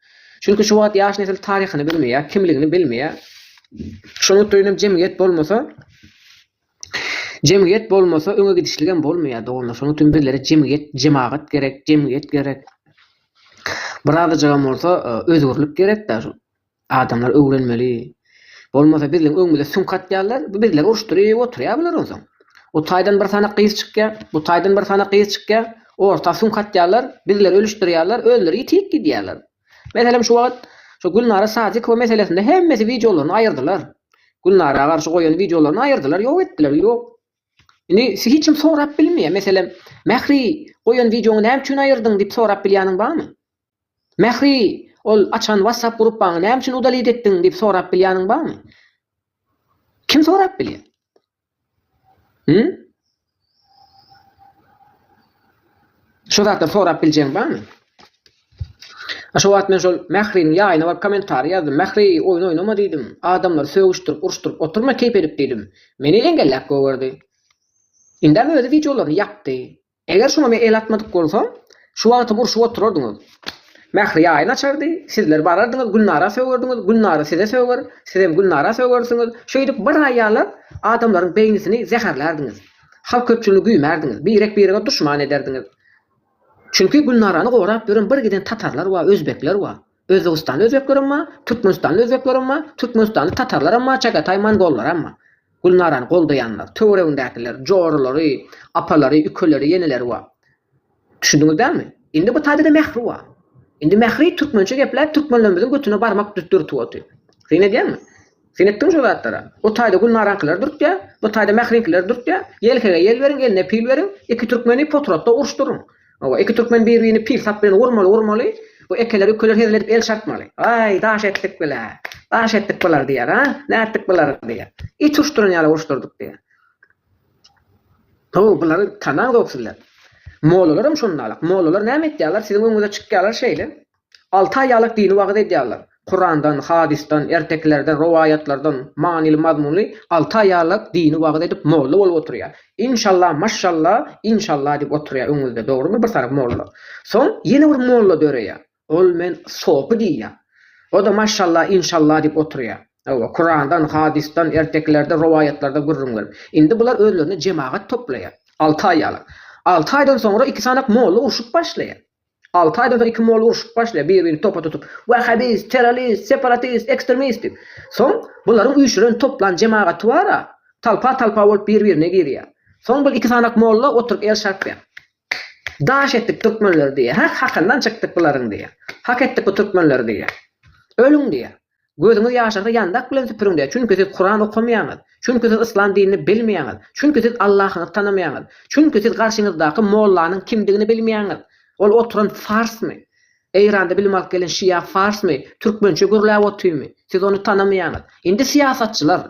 Çünki şu wagt ýaş nesil taryhyny bilmeýär, kimligini bilmeýär. Şonuň üçin hem jemgyýet bolmasa, jemgyýet bolmasa öňe gidişlik hem bolmaýar doganlar. Şonuň üçin bizlere jemgyýet, jemagat gerek, jemgyýet gerek. Birazajygam bolsa e, özgürlük gerek-de. Adamlar öwrenmeli, Bolmasa bizleň öňümize süňk atýarlar, bizleri uruşdyryp oturýar bular onsoň. O taýdan bir sanak gyz çykýar, bu taýdan bir sanak gyz çykýar, orta süňk atýarlar, bizleri ölüşdirýärler, özleri ýitip gidýärler. Meselem şu wagt şu Gülnara Sadykowa meselesinde hemmesi wideolaryny aýyrdylar. Gülnara garşy goýan wideolaryny aýyrdylar, ýok etdiler, ýok. Indi sizi hiç kim sorap bilmeýär. Meselem, Mähri, goýan wideoňy näme üçin aýyrdyň diýip sorap bilýäniň barmy? Mähri, ol açan WhatsApp gruppaňy näme üçin udalit etdiň diýip sorap bilýäniň barmy? Kim sorap bilýär? Hü? Şo zatlary sorap biljegiň barmy? A şo wagt men şol Mähriniň ýaýyna baryp kommentariý ýazdym. Mähri, oýun oýnama diýdim. Adamlary sögüşdirip, uruşdyryp oturma keýp edip diýdim. Meni engelläp goýberdi. Indem özi wideolaryny ýapdy. Eger şuňa men el atmadyk bolsam, şu wagtam urşup oturardyňyz. Mähri ýaýyny açardy, sizler barardyňyz, Gülnara sögerdiňiz, Gülnara size söger, sizem Gülnara sögersiňiz. Şeýdip bir aý ýalap, adamlaryň beýnisini zäherlärdiňiz. Halk köpçüligini güýmärdiňiz, birek-birege duşman ederdiňiz. Çünki Gülnarany gorap ýören bir giden tatarlar bar, özbekler bar. Özbegistanly özbeklerem bar, türkmenistanly özbeklerem bar, türkmenistanly tatarlaram bar, çagataý mongollaram bar. Gülnarany goldaýanlar, töweregindäkiler, joralary, apalary, ükeleri, ýeneleri bar. Düşündiňiz dälmi? Indi bu taýda-da Mähri bar. Indi Mähri türkmençe gepläp türkmenlerimiziň götüne barmak dürtüp otyr. Syn edýäňmi? Sen etdiň şu zatlara. O taýda gülnaraňkylar dürtýär, bu taýda mähriňkiler dürtýär. Ýelkege ýel beriň, eline pil beriň, iki türkmeni potratda uruşdyryň. Hawa, iki türkmen bir-birini pil sap bilen urmaly, urmaly. Bu ekeler, ükeler hezil edip el çarpmaly. Aý, daş etdik bilä. Daş etdik bular diýer, a? Nätdik bulary diýer. It uruşdyran ýaly uruşdyrdyk diýer. Haw, bulary tanaňzok sizler. Mollalaram şondalyk. Mollalar näme etýärler, siziň öňüňize çykýarlar şeýle. Alty aýalyk dini wagyz edýärler. Kurandan, hadysdan, ertekilerden, rowaýatlardan manyly-mazmunly alty aýalyk dini wagyz edip molla bolup oturýar. Inşallah, maşşallah, inşallah diýip oturýar öňüňizde, dogrumy, bir sany molla. Soň ýene bir molla döreýär. Ol men sopy diýýär. O-da maşşallah, inşallah diýip oturýar. Hawa, Kurandan, hadysdan, ertekilerden, rowaýatlardan gürrüň berip. Indi bular özlerine jemagat toplaýar. Alty aýalyk. Alty aýdan soňra iki sanak molla urşup başlaýar. Alty aýdan-da iki molla urşup başlaýar, bir-birini topa tutup, wahhabist, terrorist, separatist, ekstremist diýip. Soň bularyň üýşüren, toplan jemagaty bar-a, talpa-talpa bolup bir-birine girýär. Soň bir iki sanak molla oturyp el çarpýar. Daş etdik türkmenleri diýýär. Hak hakyndan çykdyk bularyň diýýär. Hak etdik bu türkmenleri diýýär. Ölüň diýýär. Gözüňiz ýaşarsa ýandak bilen süpüriňde, çünki siz Kuran okamaýaňyz, çünki siz yslam dinini bilmeýäňiz, çünki siz Allahyňyzy tanamaýaňyz, çünki siz garşyňyzdaky mollanyň kimdigini bilmeýäňiz, ol oturan farsmy, Eýranda bilim alyp gelen şia farsmy, türkmençe gürläp otyrmy, siz ony tanamaýaňyz. Indi syýasatçylar,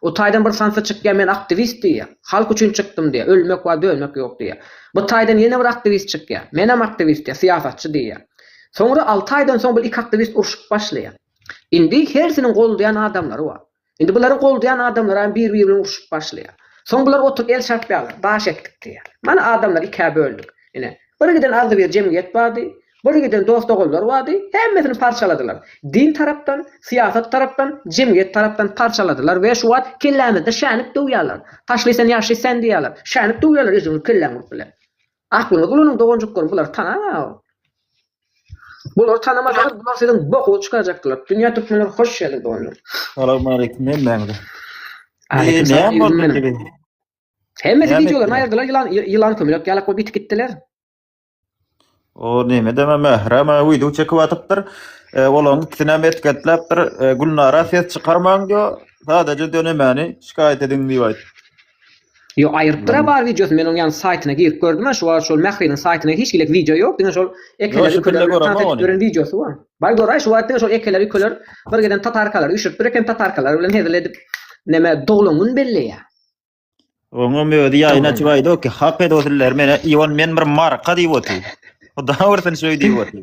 O taýdan bir sansa çykýar men aktiwist diýýär. Halk üçin çykdym diýýär. Ölmek bar dönmek ýok diýýär. Bu taýdan ýene bir aktiwist çykýar. Menem aktiwist diýýär, syýasatçy diýýär. Soňra alty aýdan soň bul iki aktiwist urşup başlaýar. Indi hersiniň goldaýan adamlary bar. Indi bularyň goldaýan adamlary hem bir biri bilen urşup başlaýar. Soň bular oturyp el çarpýarlar. Daş etdik diýýär. Mana adamlar ikä böldük. Ine. Bir giden agzybir jemgyýet bardy. Boly giden dost-ogullar bardy, hemmesini parçaladylar. Din tarapdan, syýasat tarapdan, jemgyýet tarapdan parçaladylar we şu wagt kellämizde şänip döwýärler. Taşly sen, ýaşly sen diýýärler. Şänip döwýärler özüňiň kelläň bolup bile. Aklyňyzy ulanyň doganjyklarym, bulary tanaňa. Bulary tanamasaňyz, bular siziň bokuňyzy çykarjakdylar. Dünýä türkmenleri hoş geldiň doganlar. Salam aleyküm hemmäňize. Aleyküm salam ýigdim meniň. Hemmesi videolaryny aýyrdylar, ýylan ýylan kömelek ýalak bolup ýitip gitdiler. O neme deme mährem video çekip atypdyr. E, olaň ikisini hem etketläpdir. E, Gülnara ses çykarmaň diýo. Sadaje dönemeni şikaýat ediň diýip aýt. Ýok, aýrypdyr ha bar wideosy. Men onuň ýan saýtyna girip gördüm ha, şu wagt şol Mähriniň saýtyna hiç gilek wideo ýok. Diňe şol ekeleri şu pille köler bilen gören wideosy bar. Baý goraý, şu wagt diňe şol ekeleri köler bir giden tatarkalary düşüripdir eken, tatarkalar bilen hezil edip neme doglan gün belleýär. Oňa mödi ýaýyn açyp aýdy ki, hak ed osuller meni Iwan men bir marka diýip otyr. O daha birsin şöý diýip otyr.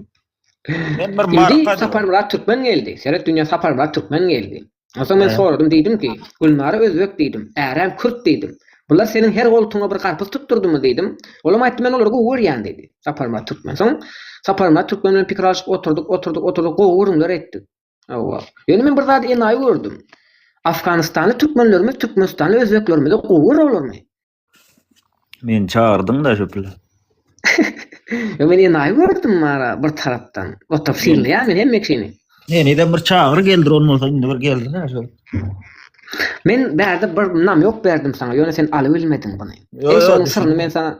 Men bir marka diýip. Sapar Murat Türkmen geldi. Seret dünýä Sapar Murat Türkmen geldi. Onsoň men soradym diýdim ki, Gülnara özbek diýdim, Ärem kürt diýdim. Bular seniň her goltuňa bir garpyz tutdurdymy diýdim. Olam aýtdy men olary gowy görýän diýdi. Sapar Murat Türkmen. Soň Sapar Murat Türkmen bilen pikir alyşyp oturdyk, oturdyk, oturdyk gowy gürrüňler etdik. Hawa. Ýöne men bir zady enaýy gördüm. Afganistanly türkmenlerimiz türkmenistanly özbeklerimize gowy görerlermi? Men çagyrdyň-da şu pile. Ýa men enaýy gördüm mara bir tarapdan. Otap synlaýan men hemme kişini. Meni de bir çagyr geldir on bolsa indi bir geldir-ä şol. Men bärde bir nam ýok berdim saňa, ýöne sen alybilmediň buny. Ýok, Eý, ýok, şonuň düşündim. syryny men sana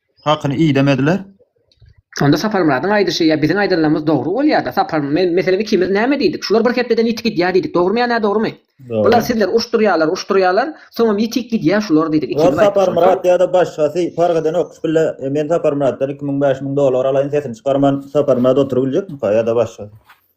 Hakyny idemediler. Onda Saparmyradyň aýdyşy ýa biziň aýdanlarymyz dogry bolýada. Sapar, men, meselem ikimiz näme diýdik? Şular bir hepdeden ýitik gidýär diýdik. Dogrumy ýa nädogrumy? Bular sizler uruşdyrýarlar, uruşdyrýarlar, soňam ýitik gidýär şular diýdik. Ikimiz aýtdyk. Şonda. Saparmyrat ýa-da başgasy parh edenok. Şu pille men Saparmyratdan iki müň, bäş müň dollar alaýyn, sesini çykarman, Saparmyrat oturybiljekmika ýa-da başgasy?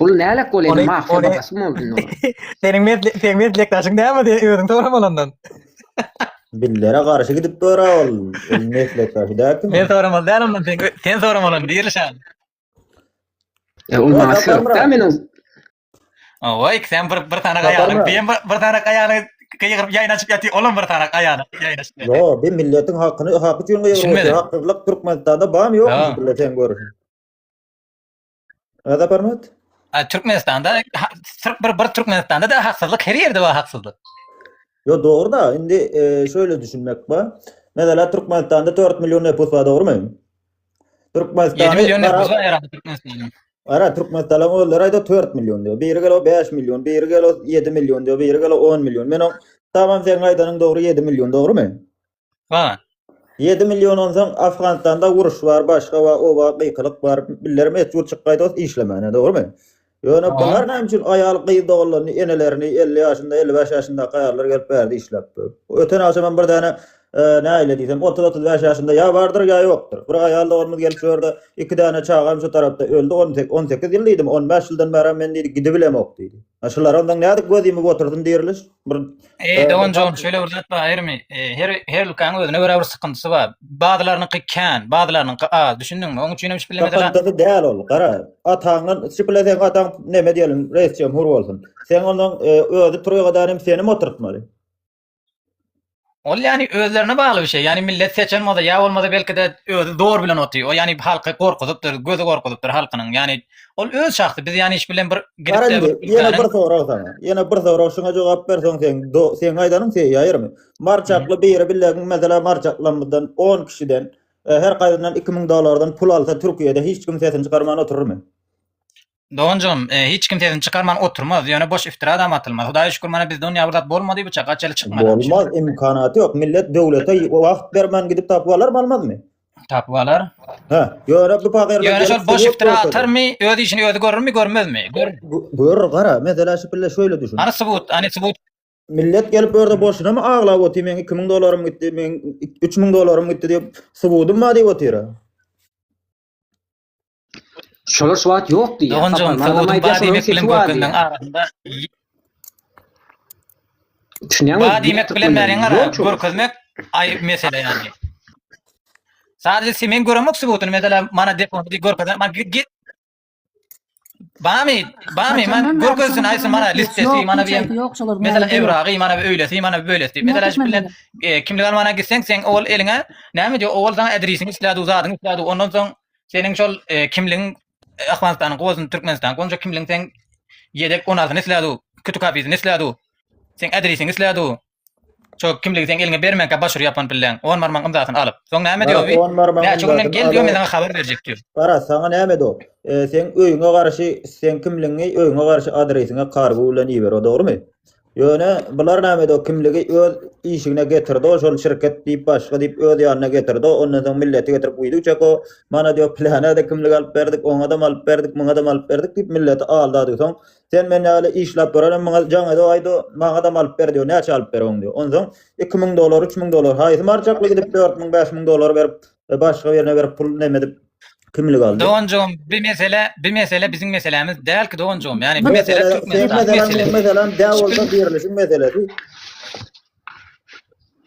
Bul nälet bolýar, mafiýa bagasy boldy indi olar. Seniň mesle, seniň meslekdaşyň näme diýip özüň sorama ondan. Billere garşy gidip bora ol. Ol meslekdaşy däki. Men soramaly däl ondan, sen, sen soramaly diýeli şan. E, ol maňa syrykda meniň. Oy, sen bir bir tane gaýany, bir bir tane gaýany gygyryp ýaýyn açyp ýatyr, olam bir tane gaýany ýaýyn açyp. Yo, bi milletiň hakyny, haky üçin gygyryp, hakylyk Türkmenistanda bamy ýok, bile sen görüň. Ada barmat? Türkmenistanda Türk bir bir Türkmenistanda da haksyzlyk her ýerde bar haksyzlyk. Yo doğru da indi e, şöyle düşünmek var. Mesela Türkmenistan'da 4 milyon nüfus var doğru mu? 7 Türkmenistan'da milyon nüfus var herhalde Türkmenistan'ın. Ara Türkmenistan'ın özleri ayda 4 milyon diyor. Biri gel o 5 milyon, biri gel o 7 milyon diyor, biri gel o 10 milyon. Men o tamam sen aydanın doğru 7 milyon doğru mu? Haa. Ýedi million onsoň Afganistanda uruş bar başga bar o bar gykylyk bar billerem et ýurt çykgaý dost işlemäne dogrymy? Ýöne bular näme üçin aýal gyz doganlaryny enelerini elli ýaşynda elli bäş ýaşyndaky aýallar gelip bärde işläp dur. Öten agşam hem bir däne nähili diýsem otuz otuz bäş ýaşynda ýa bardyr ýa ýokdur bir aýal doganymyz gelip şu ýerde iki däne çagam şu tarapda öldi on sek on sekiz ýyl diýdim on bäş ýyldan bärem men diýdi gidibilemok diýdi. Şulara onsoň nädip göz ýumup otursyn diriliş. bir Eý e, doganjygym bir- şöyle bir zat bar aýrymy. E, Her her ülkäň özüne görä bir sıkıntysy bar. Bazılarynyňky kän, bazılarynyňky az. Düşündiňmi? Onuň üçin hem şipileme de Sakatdygy däl ol. Gara, ataňdan şipile sen ataň neme diýelim, reis jemhur bolsun. Sen ondan e, özi turýa gadan hem seni mi oturtmaly? Ol yani özlerine bagly bir şey. Yani millet seçen bolsa ya bolmasa belki de özü zor bilen oty. O yani halky korkuzypdyr, gözü korkuzypdyr halkynyň. Yani ol öz şahsy. Biz yani iş bilen bir gidip de bir Yine bir sorag sana. Yine bir sorag şuna cevap ver soň sen do, sen aydanyn sen yayırmy? Marçaklı biri bilegin mesela marçaklamızdan 10 kişiden e, her kaydından 2000 dolardan pul alsa Türkiye'de hiç kim sesini çıkarman oturur mu? Donjygym, hiç kim sesini çykarman oturmaz, ýöne boş iftiradam atylmaz. Hudaýa şükür, mana biz dünýä bir zat bolmady biçak, gaç eli çykmady. Bolmaz, imkanaty ýok. Millet döwlete wagt bermän gidip tapyp alarmy, almazmy? Tapyp alar. Hä, ýöne bu pagyrlar gelip. Ýöne şol boş iftira atarmy, öz işini özi görürmi, görmezmi? Görür, gara, mesele şu pille şöyle düşün. Hany subut, hany subut. Millet gelip bu ýerde boşunamy aglap otyr, meň 2000 dollarym gitdi, meň 3000 dollarym gitdi diýip, subudym bar diýip otyr. Şolar şu wagt ýok diýýär. Doganjygym, Sowudyň ba diýmek bilen görkezmegiň arasynda Düşünýäňmi? Ba diýmek bilen bäriň ara görkezmek aýry mesele ýaly. Sadece sen men göremok subutyny mesela mana deponu görkezen man git Bamy, bamy, man görkezsin aýsy mana listesi, mana bir mesela evragy, mana bir öýlesi, mana bir öýlesi. Mesela şu bilen e, kimlik almana gitseň, sen ol eliňe näme diýip, ol sana adresiňi isledi, zadyňy isledi. Ondan soň seniň şol e, kimligiň e, Afganistanyň gowusyny Türkmenistan, gonja kimligiň sen yedek onasyny isledi, kütük hafizini isledi. Sen adresiňi isledi. Şo kimligi sen eliňe bermänkä baş urup ýapan pilleň. On barmagyň ymzasyny alyp. Soň näme diýýär bi? On barmagyň Näçe günden ymzasyny gel diýýär, alyp. men saňa habar berjek diýýär. Garaz, saňa näme do? E, seň öýüňe garşy, seň kimligiňi öýüňe garşy adresiňe kargo bilen iber, o dogrumy? Ýöne bular näme do? Kimligi öz işigine getirdi, o şol şirket diýip, başga diýip öz ýanyna getirdi. o. Ondan soň milleti getirip guýdy üçek o. Mana diýýär, plana-da kimlik alyp berdik, oňa-da alyp berdik, muňa-da alyp berdik diýip milleti aldadysoň, Sen men ýaly işläp durarym, maňa jaňedo aýdo, maňadam alyp ber diýo, näçe alyp berewiň diýo. Onsoň iki müň dollar, üç müň dollar, haýsy marjakly gidip dört müň, bäş müň dollar berip, başga birine berip pul neme edip kimlik aldy. Doganjygym bi mesele, bi mesele biziň meselämiz dälki doganjygym, ýagny bi mesele Türkmenistanyň meselesi. Seň meseleň, meň meselem dä bolsa birlişiň meselesi.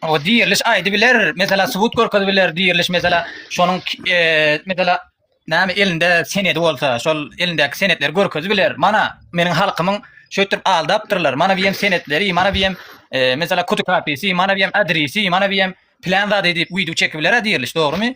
O diriliş aydı biler. Mesela subut görkezi biler diriliş mesela şonun e, mesela näme elinde senedi bolsa şol elindeki senetleri görkezi biler. Mana meniň halkymyň şöýtüp aldapdyrlar. Mana biýem senetleri, mana biýem e, mesela kutu kapisi, mana biýem adresi, mana biýem plan zady diýip video çekip biler diriliş, dogrymy?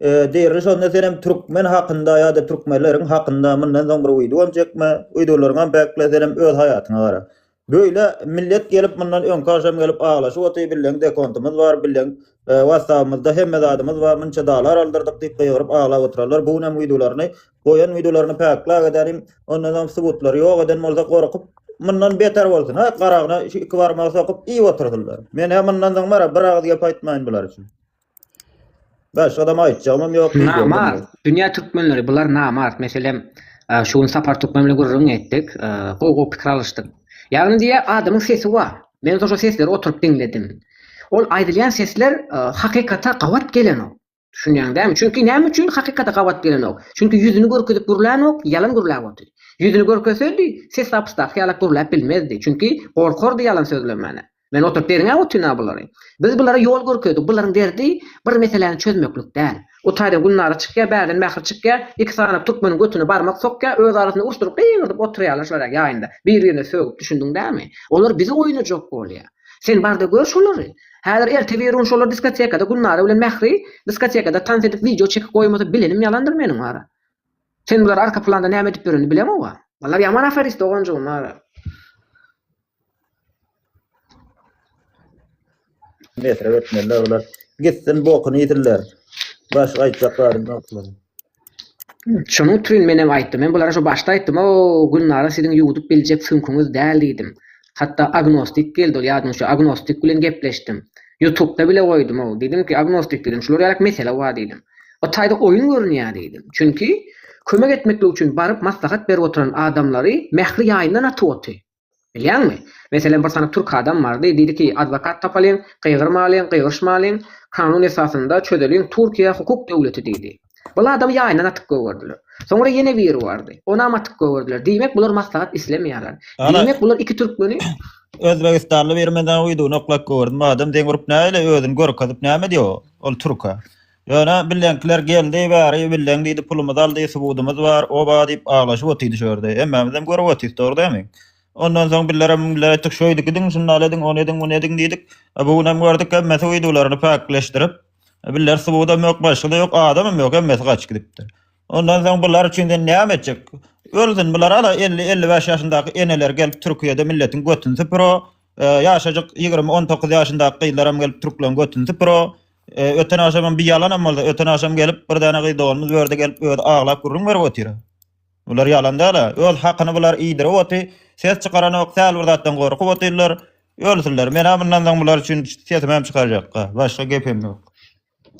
Deri şonda senem türkmen hakynda ýada türkmenleriň hakynda mundan soň bir wideom çekme wideolaryňam bekle senem öz haýatyňa gara. Böyle millet gelip mundan öňki agşam gelip aglaşyp otyr billeň dekontymyz bar billeň wassabymyzda hemme zadymyz bar munça dalar aldyrdyk diýip gygyryp aglap oturarlar bu günem wideolaryny goýan wideolaryny peklap edälim ondan soň subutlary ýok eden bolsa gorkup mundan beter bolsun ha garagyna şu iki barmagy sokup iýip otursynlar menä mundan soň bara bir agyz gep aýtmaýyn bular üçin. Başga adam aýtjagymam ýok. Namart. Dünýä türkmenleri bular namart. Meselem, şu gün Sapar türkmen bilen gürrüň etdik. Gowy gowy pikir alyşdyk. Ýagny diýýä adamyň sesi bar. Men şo sesleri oturyp diňledim. Ol aýdylýan sesler hakykata gabat gelenok. Düşünýäň dämi? Çünki näme üçin hakykata gabat gelenok? Çünki ýüzüni görkezip gürlänok, ýalan gürläp otyr. Ýüzüni görkezsedi, ses zapysdaky ýalak gürläp bilmezdi. Çünki gorkardy ýalan sözlemäne. Men oturyp derňäp otyryn-a bulary. Biz bulara ýol görkezdik. Bularyň derdi bir meseläni çözmeklik däl. Gutaýdan Gülnara çykýar, bärden Mähri çykýar. Iki sanap türkmeniň götüne barmak sokýar. Öz arasynda urşdyryp, gygyrdyp otyrýarlar şolar ýaýynda. Bir-birine sögüp, düşündiň dämi? Olar bizi oýnajak bolýar. Sen bar-da gör şolary. Häzir ertebirun şolar diskotekada Gülnara bilen Mähri diskotekada tans edip wideo çekip goýmasa bilenim ýalandyr meniň wara. Sen bulary arka planda näme edip ýörenini bileňow-a. Olar ýaman aferist doganjygym wara. Metre götmeliler olar. Gitsin bokunu yedirler. Başka aytacak garim yok olar. Şonuň üçin men hem aýtdym. Men bulara şu başda aýtdym, o Gülnara siziň ýuwudyp biljek süňküňiz däl diýdim. Hatda agnostik geldi ol ýadyňyz şu agnostik bilen gepleşdim. Ýutubda bile goýdum o. Diýdim ki, agnostik diýdim, şular ýalak mesele bar diýdim. O taýda oýun görünýär diýdim. Çünki kömek etmeklik üçin baryp maslahat berip oturan adamlary Mähri ýaýyndan atyp oty. Bilýäňmi? Meselem, bir sany türk adam bardy, diýdiki, adwokat tapalyň, gygyrmalyň, gygyryşmalyň, kanun esasynda çözeliň, Türkiýe hukuk döwleti diýdi. Bul adamy ýaýyndan atyp gögerdiler. Soňra ýene biri bardy. Onam atyp gögerdiler. Diýmek, bular maslahat islemeýärler. Diýmek, bular iki türkmeni. Özbegistanly biri men dagy wideony oklap gögerdim. Adam deň urup näle özüni görkezip näme diýýär ol türke. Ýöne bileňkiler geldi bäri bileň diýdi pulumyzy aldy subudymyz bar oba diýip aglaşyp otydy şu ýerde hemmämizem görüp otyrys dogry dämi ondan soň billere müňle etdik şeýdik ediň şundal ediň ony ediň muny ediň diýdik e bu günem gördük hemmesi uýdularyny päkleşdirip biller subudam ýok başgada ýok adamam ýok hemmesi gaçyp gidipdir ondan soň bular üçin sen näme etjek ölsün bular ala elli elli bäş ýaşyndaky eneler gelip türkiýede milletiň götüni süpür o e ýaşajyk ýigrimi on dokuz ýaşyndaky gyzlaram gelip türkleň götüni süpür o E, öten akşam bir ýalanam boldy. Öten akşam gelip bir dana gyz doganymyz berdi gelip öz aglap gürrüň berip otyr. Bular ýalan däl. Öz hakyny bular iýdirip oty. Ses çykaran ok, säl bir zatdan gorkup otyrlar. Ölsünler. Men hem bundan soň bular üçin sesimi hem çykarjakka. Başga gepim ýok.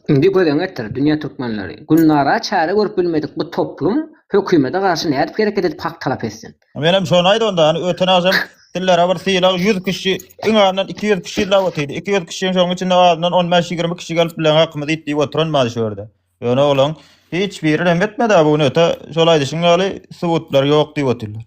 Indi gözeň etdir, dünýä türkmenleri. Günnara çäre görüp bilmedik bu toplum hökümete garşy nädip hereket edip hak talap etsin? Menem şony aýt onda, hani öten agşam dillere bir sylag 100 kişi, iň azyndan 200 kişi illa otyrdy. 200 kişiň şoň içinde azyndan 15-20 kişi gelip bilen hakymyzy aýt diýip oturan bar şu ýerde. Ýöne olaň hiç biri rem etmedi-ä bu gün öte şol aýdyşyň ýaly subutlar ýok diýip otyrlar.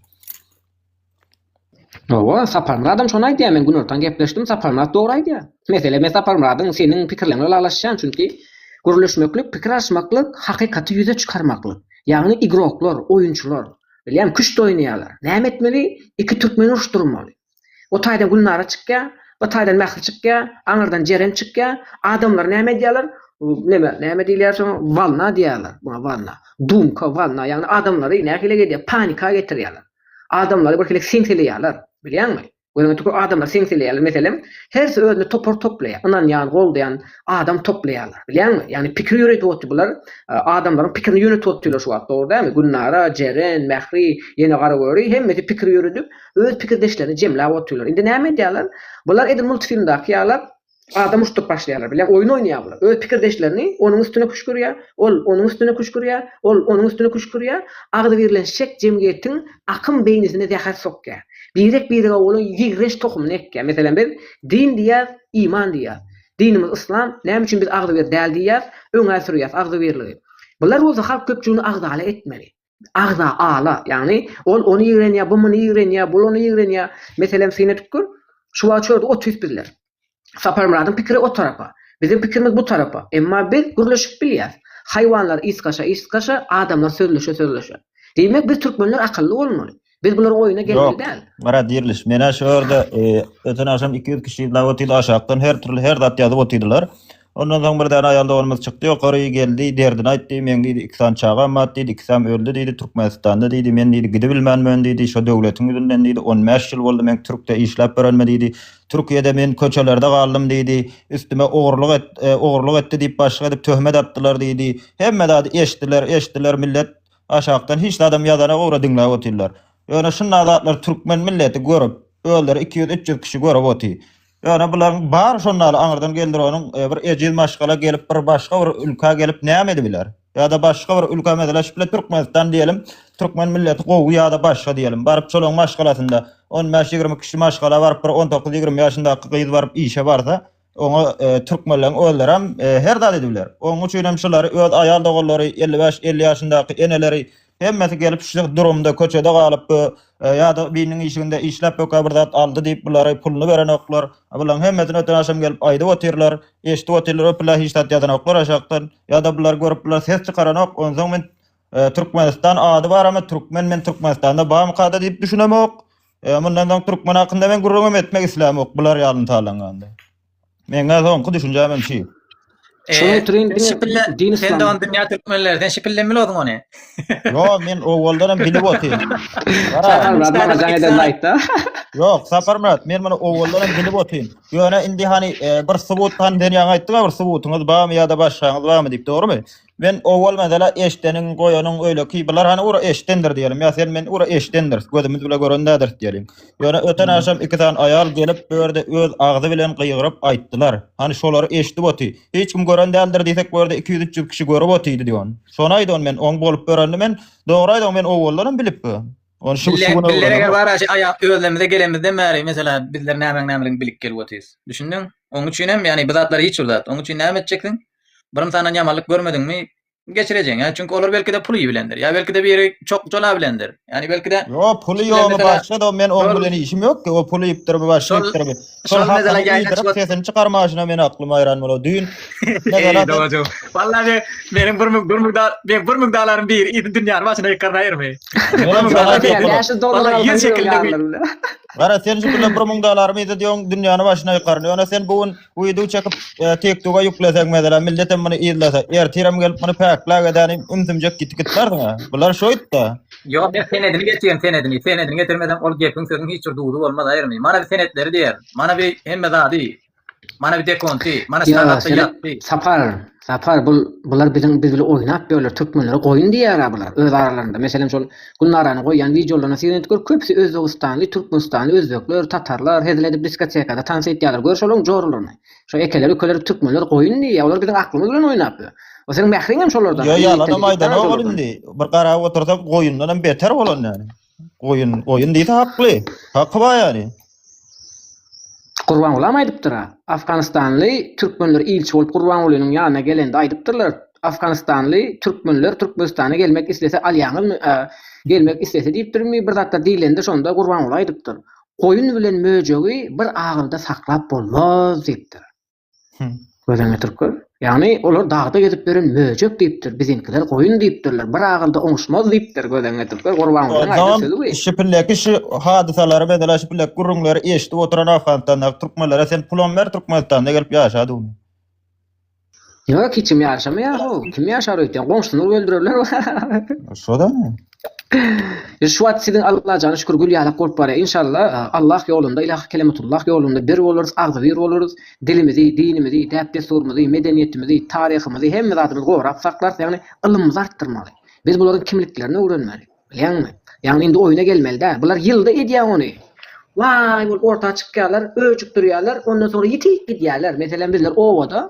Hawa, Saparmyradam şony aýdýar. Men günortan gepleşdim, Saparmyrat dogry aýdýar. Mesele me Saparmyradyň seniň pikirleň bilen ylalaşýan, çünki gürleşmeklik, pikir alyşmaklyk, hakykaty ýüze çykarmaklyk. Ýagny igroklar, oýunçylar. Bilýän küşt oýnaýarlar. Näme etmeli? Iki türkmeni uruşdyrmaly. O taýdan Gülnara çykýar, bu taýdan Mähri çykýar, aňyrdan Jeren çykýar. Adamlar näme edýärler? Neme, näme diýilýär şoňa? Walna diýýärler muňa walna. Dumka, walna, ýagny adamlary nähili edýär? Panika getirýärler. Adamlary birhili seňseleýärler. Bilýäňmi? Göreňki köp adamlar seň seleýärler. Meselem, hersi özüne topar toplaýar. Ynanýan, goldaýan adam toplaýarlar. Bilýäňmi? Ýagny pikir ýöredip otdy bular. Adamlaryň pikirini ýönetip otdylar şu wagt. Dogry dälmi? Gülnara, Jeren, Mähri, ýene Garagöri hemmesi pikir ýöredip, öz pikirdeşlerini jemläp otdylar. Indi näme edýärler? Bular edil multfilmdaky ýalap, Adam muşduk başlaýarlar, bilen oýun oýnaýar bular. Öz pikirdeşlerini onuň üstüne küşgürýär, ol onuň üstüne küşgürýär, ol onuň üstüne küşgürýär. Agzybirlenişjek jemgyýetiň akym beýnisine zäher sokýar. Birek-birege bolan ýigrenç tohumyny ekýär. Meselem, biz din diýýäris, iman diýýäris. Dinimiz yslam, näme üçin biz agzybir däl diýýäris, öňe sürýäris agzybirligi. Bular bolsa halk köpçüligini agzala etmeli. agza ala, ýagny ol ony ýigrenýär, bu muny ýigrenýär, bul ony ýigrenýär. Meselem, syn edip gör, şu wagt şu ýerde oturyp bizler. Saparmyradyň pikiri o tarapa, biziň pikirimiz bu tarapa, emma biz gürleşip bilýäs. Haýwanlar ysgaşa-ysgaşa, adamlar sözleşe-sözleşe. Diýmek, biz türkmenler akylly bolmaly. Biz bular oýuna gelmeli däl. Mara diriliş. Mena şu ýerde e, öten akşam 200 kişi dawa otydy aşakdan her türlü her zat ýazyp otydylar. Ondan soň bir däne aýal doganymyz çykdy ýokary geldi derdini aýtdy. Men diýdi iki sany çagam bar diýdi. Ikisem öldi diýdi. Türkmenistanda diýdi. Men diýdi gidibilmänmen diýdi. Şu döwletiň ýüzünden diýdi. 15 ýyl boldy men Türkde işläp berenme diýdi. Türkiýede men köçelerde galdym diýdi. Üstüme ogurlyk et, e, ogurlyk etdi diýip başlyk edip töhmet atdylar diýdi. Hemme zady eşdiler, eşdiler millet Aşakdan hiç zadam ýazana ugra diňläp otyrlar. Ýöne şunda zatlary türkmen milleti görüp, özleri iki ýüz üç ýüz kişi görüp oty. Ýöne bularyň bary şondaly aňyrdan geldironyň bir ejiz maşgala gelip bir başga bir ülka gelip näme edibiler? Ýada başga bir ülka mesele şu bile türkmenistan diýelim türkmen milleti gowy ýada başga diýelim baryp şolaryň maşgalasynda on bäş ýigrimi kişi maşgala baryp bir on dokuz ýigrimi ýaşyndaky gyz baryp işe barsa Oňa türkmenleriň özlerem her zat edip biler. Onuň üçinem şulary öz aýal doganlary, elli bäş, elli ýaşyndaky eneleri hemmesi gelip şu durumda köçede galyp bu ýa-da biriniň işiginde işläp böke bir zat aldy diýip bulary puluny berenoklar. Bularyň hemmesini öten agşam gelip aýdyp otyrlar. Eşidip otyrlar öpüler hiç zat ýazanoklar aşakdan. Ýa-da bulary görüp bular ses çykaranok. Onsoň men Türkmenistan ady baramy, türkmen men Türkmenistanda barmykada diýip düşünemok. E, mundan soň türkmen hakynda men gürrüň hem etmek islämok, bular ýalyny talanganda. Meňä soňky düşünjäm hem şu. E, Şonuň üçin sen diňe şipille, din sen de islam. on dünýä türkmenler, sen şipille bilodun ony. Ýo, men owaldan hem bilip otyryn. Gara, Sakal Murat maňa jaň eden laýkda. Ýok, Sapar Murat, men muny owaldan hem bilip otyryn. Ýöne indi hani e, bir subut han sen ýaňy aýtdyň, bir subutyňyz barmy ýa-da başgaňyz barmy diýip, dogrumy? Men owal mesele eşdeniň, goýanyň öýleki bular hany ura eşdendir diýelim. Ýa sen men ura eşdendiris, gözümiz bile gören dädiris diýelim. Ýöne öten agşam iki sany aýal gelip bu ýerde öz agzy bilen gygyryp aýtdylar. Hany şolary eşdip oty. Hiç kim gören däldir diýsek bu ýerde iki ýüz üç ýüz kişi görüp otydy diýip on. Şony aýdy on men oň bolup börenini men dogry aýdy oň men owaldan hem bilip bu. Ony şu şu gün öwrendim. Özlemize gelenimizden bäri mesele bizler nämeň nämeligini bilip gelip otyrys. Düşündiň? Oň üçin hem ýagny bu zatlar hiç bir zat. Oň üçin näme etjeksiň? Birinsandan ýamanlyk görmediňmi, geçirejegin. Ýa çünki olar belki-de pul iýip bilendir. Ýa belki-de biri çok jola bilendir. Ýani belki-de Ýo, puly ýogumy başga da, men oň bilen işim ýokki. O pul iýipdirmi, başga iýipdirmi. Şol hakyny iýdirip, sesini çykarmaşyna meniň aklym haýran bolýar. Düýn Wallahi meniň bir muk, bir muk da, meniň bir muk dalaryň biri iýdi dünýäni başyna ýykarnaýyrmy. Wallahi ýer çekildi. Gara sen şu günler bir muk dalarymy iýdi diýoň, dünýäni başyna ýykaryn. Ýöne sen bu gün Guýduw çekyp, TikToka ýükleseň meselem, millet hem muny yzlasa, ertirem gelip muny päkläp edäni, ümsümjek gitip gitmärsiň ha. Bular şoýtda. Ýok, men senedini getirýän senedini. Senedini getirmesem ol gepiň sözüň hiç bir duzy bolmaz aýrymy. Mana bir senetleri diýer. Mana bir hemme zady. Mana bir dekonty. Mana şu halatda ýatdy. Sapar, Sapar bul bular biziň biz bile oýnap ýörler türkmenlere goýun diýýärä bular öz aralarynda meselem şol Gülnarany goýýan wideolaryna seredip gör köpüsi özbegistanly türkmenistanly özbekler tatarlar hezil edip diskotekada tans etýärler gör şolaryň joralaryny şo ekeler ükeler türkmenler goýun diýýä olar biziň aklymyz bilen oýnap ýör o seň mähriňem şolardan Ýo ýalanam aýdanok ol indi bir garap otursam goýundanam beter bolan ýaly. Goýun, goýun diýse hakly. Haky bar ýaly. Gurbangulam aýdypdyr ha. Afganistanly türkmenler ilçi bolup Gurbangulynyň ýanyna gelende aýdypdyrlar, Afganistanly türkmenler Türkmenistana gelmek islese alýaňyzmy a, gelmek islese diýipdirmi bir zatlar diýlende şonda Gurbanguly aýdypdyr, Goýun bilen möjegi bir agylda saklap bolmaz diýipdir. Gözüňe getirip gör. Ýagny olar dagda gezip ýören möjek diýipdir, biziňkiler goýun diýipdirler, bir agylda oňuşmaz diýipdir, gözüňe getirip gör, Gurbangulynyň aýdan sözi bu. Şu pilleki şu hadysalary meselem şu pilleki gürrüňleri eşidip oturan Afganistandaky türkmenlere sen pulam ber Türkmenistanda gelip ýaşa dugny. Ýok hiçim ýaşamaýar hov, kim ýaşar öýtýän, goňşysyny öldürerler. Şodamy? Şu wagt siziň Allajana şükür gül ýalak bolup barýar. Inşallah e, Allah ýolunda, ilahy kelimetullah ýolunda bir bolarys, agzybir bolarys. Dilimizi, dinimizi, däp-dessurymyzy, medeniýetimizi, taryhymyzy, hemme zadymyzy gorap saklarys. Ýagny ylymymyzy artdyrmaly. Biz bularyň kimliklerini öwrenmeli. Bilýäňmi? Ýagny indi oýuna gelmeli däl. Bular ýylda edýär ony. Waý bolup orta çykýarlar, öjükdirýärler, ondan soňra ýitik gidýärler. Meselem bizler obada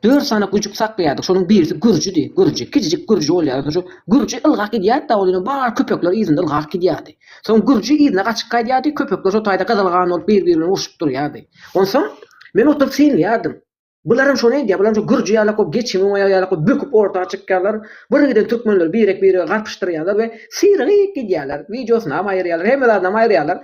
Dört sany güjük saklaýardyk. Şonuň birisi Gürjüdi. Gürji. Kiçijik Gürji bolýardy. Şu Gürji ylgap gidýärdi-de, ol ýene bar köpekler yzynda ylgap gidýärdi. Soň Gürji yzyna gaçyp gaýdýardy, köpekler şo taýda gyzylgan bolup bir-biri bilen urşup durýardy. Onsoň men oturyp synlaýardym. Bularam şony edýär, bularam şu Gürji ýalak bolup geçimi oňa ýalak bolup böküp orta çykýarlar. Birgiden türkmenleri birek-birege garpyşdyrýarlar we syrygyp gidýärler. Wideosynam aýyrýarlar, hemme zadynam aýyrýarlar.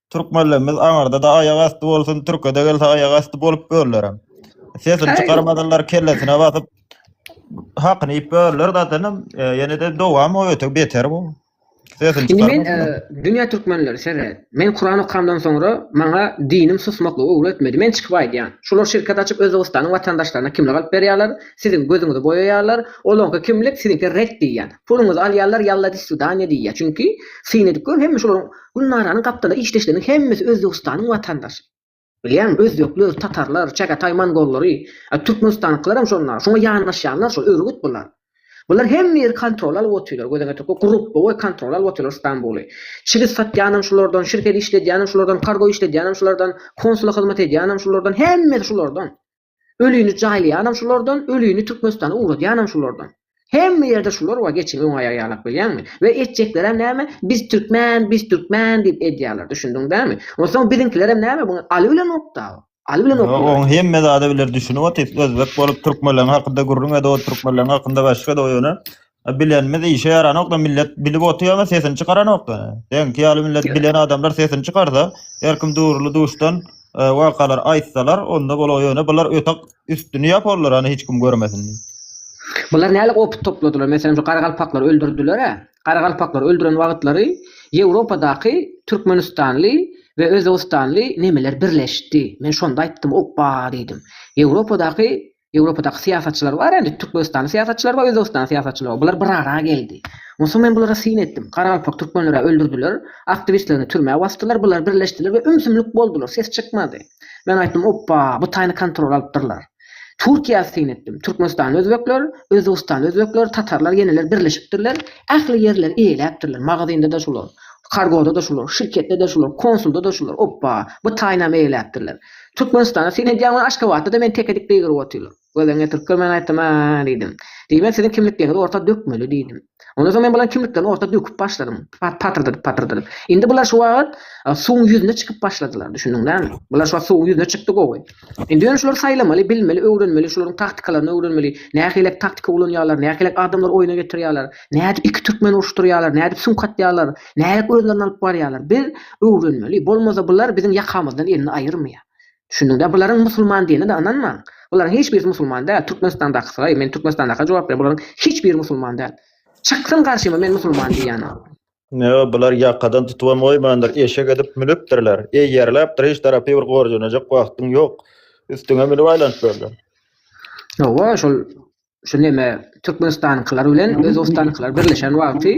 Türkmenlerimiz aňyrda-da aýak asty bolsun, türke-de gelse aýak asty bolup böllerem. Sesini Aý. çykarmadylar, kellesine basyp hakyny iýip böldiler zatenam, e, ýene-de dowam o öte beter bu. Sesini Indi men çykarmadylar. e, dünýä türkmenleri seret. Men Kuran okamdan soňra maňa dinim susmaklygy öwretmedi. Men çykyp aýdýan. Şular şirket açyp Özbegistanyň watandaşlaryna kimlik alyp berýärler, siziň gözüňizi boýaýarlar. Olaňky kimlik, siziňki red diýýän. Puluňyzy alýarlar, ýalla di sudaniýa diýýär. Çünki syn edip gör hemme şolaryň Gülnaranyň gapdala işdeşleriniň hemmesi Özbegistanyň watandaşy. Bilýäňmi, özbekler, tatarlar, çagataý mongollary, a türkmenistanyňkylaram şonda, şoňa ýanaşýanlar şol, örgüt bular. Bular hemme ýeri kontrola alyp otyrlar, gözeňe töküp, gurup, boý, kontrola alyp otyrlar Stambuly. Çigit satýanam şulardan, şirket işledýänem şulardan, kargo işledýänem şulardan, konsula hyzmat edýänem şulardan, hemmesi şulardan. Ölini jaýlaýanam şulardan, ölini Türkmenistana ugradýanam şulardan. Hemme ýerde şular bar, geçiň öň aýak ýalap bilýäňmi? We etjeklerem näme? Biz türkmen, biz türkmen diýip edýärler, düşündiň dämi? Onsoň biziňkilerem näme bu? Aly bilen oktaw. Aly bilen oktaw. Ýok, oň hemme zada biler düşünip otyrys, özbek bolup türkmenleriň hakynda gürrüň ede otyrys, türkmenleriň hakynda başga ede ýöne A bilenimiz işe ýaranokda millet bilip otyama sesini çykaranokda. Seňki ýaly millet bilen adamlar sesini çykarsa, her kim duruly duşdan e, wakalar aýtsalar, onda bola ýöne bular ötek üstüni ýaparlar hani hiç kim görmesin. Bular nälik opyt topladylar. Meselem şu garagalpaklar öldürdiler-ä. Garagalpaklar öldüren wagtlary Ýewropadaky türkmenistanly we özbegistanly nemeler birleşdi. Men şonda aýtdym, opba diýdim. Ýewropadaky Ýewropadaky syýasatçylar bar indi, türkmenistanly syýasatçylar bar, özbegistanly syýasatçylar bar. Bular bir ara geldi. Onsoň men bulara syn etdim. Garagalpak türkmenleri-ä öldürdiler, aktiwistlerini türmä basdylar, bular birleşdiler we ümsümlik boldular, ses çykmady. Men aýtdym, Opba, bu taýyny kontrola alypdyrlar. Türkiýä syn etdim. Türkmenistanly özbekler, özbegistanly özbekler, tatarlar, ýeneler birleşipdirler. Ähli ýerleri eýeläpdirler. Magazynda-da şular, kargoda-da şular, şirketde-de şular, konsulda-da şular. Opba, bu taýynam eýeläpdirler. Türkmenistanda syn edýän we Aşgabatda-da meni teke dik beýgerip otyrlar. Gözlerini ýatyrk görmän aýtdym-a, diýdim. Diýibem siziň kimliklerňizi orta dökmeli, diýdim. Ondan soň men bularyň kimliklerini orta döküp başladym, patyrdadyp-patyrdadyp. Indi bular şu wagt suwuň ýüzüne çykyp başladylar, düşündiň näme? Bular şu wagt suwuň ýüzüne çykdy gowy. Indi ýöne şulary saýlamaly, bilmeli, öwrenmeli, şularyň taktikalaryny öwrenmeli, nähilek taktika ulanýarlar, nähilek adamlary oýuna getirýärler, nädip iki türkmeni uruşdyrýarlar, nädip süňk atýarlar, Nädip özlerini alyp barýarlar? Biz öwrenmeli. Bolmasa bular biziň ýakamyzdan elini aýyrmaýar. Düşündiňdä? Bularyň musulman diýenine-de ynanmaň. Bularyň hiç birisi musulman däl. Türkmenistandakysylaý, men Türkmenistandaka jogap berýän, bularyň hiç biri musulman däl. Çyksyn garşyma men musulman diýýän adam. Ýok, bular ýakadan tutubam goýmandyr, eşek edip münüpdirler. Eýerläpdir, hiç tarapy bir gorjenejek wagtyň ýok. Üstüňe münüp aýlanyp berler. Hawa, şol şu neme Türkmenistanyňkylar bilen Özbegistanyňkylar birleşen wagty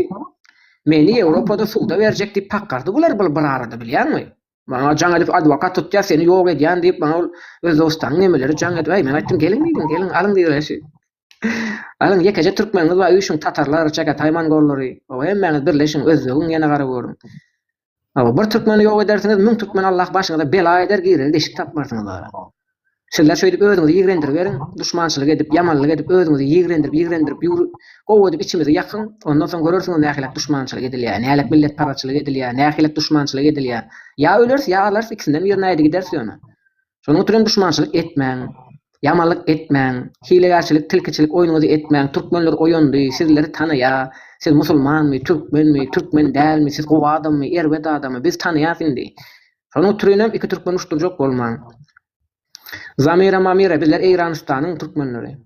meni Ýewropada suda berjek diýip kakgardy bular bir bir arada bilýäňmi? Maňa jaň edip adwokat tutýar seni ýok edýän diýip maňa ol Özbegistanyň nemeleri jaň edip äý men aýtdym geliň diýdim geliň alyň diýdiler Alyň ýekeje türkmeniňiz bar üýşüň tatarlar, çagataý mongollary oba hemmäňiz birleşiň Özbegiň ýene gara görüň. Hawa, bir türkmeni ýok edersiňiz, müň türkmeni Allah başyňyza bela eder, girere deşik tapmarsyňyz ora. Sizler şeýdip özüňizi ýigrendiriberiň, duşmançylyk edip, ýamanlyk edip, özüňizi ýigrendirip-ýigrendirip ýur, gowy edip içimizi ýakyň, ondan soň görersiňiz nähilek duşmançylyk edilýär, nähilek milletparaçylyk edilýär, nähilek duşmançylyk edilýär. Ýa öleris, ýa alarys, ikisinden birine äýdi gideris ýöne. Şonuň üçin hem duşmançylyk etmäň, ýamanlyk etmäň, hilegärçilik, tilkiçilik oýnuňyzy etmäň, türkmenler oýandy, sizleri tanaýa, siz musulmanmy, türkmenmi, türkmen dälmi, siz gowy adammy, erbet adamy, biz tanaýas indi. Şonuň üçin hem iki türkmen uşdurjak bolmaň. Zamira-mamira bizler Eýranystanyň türkmenleri.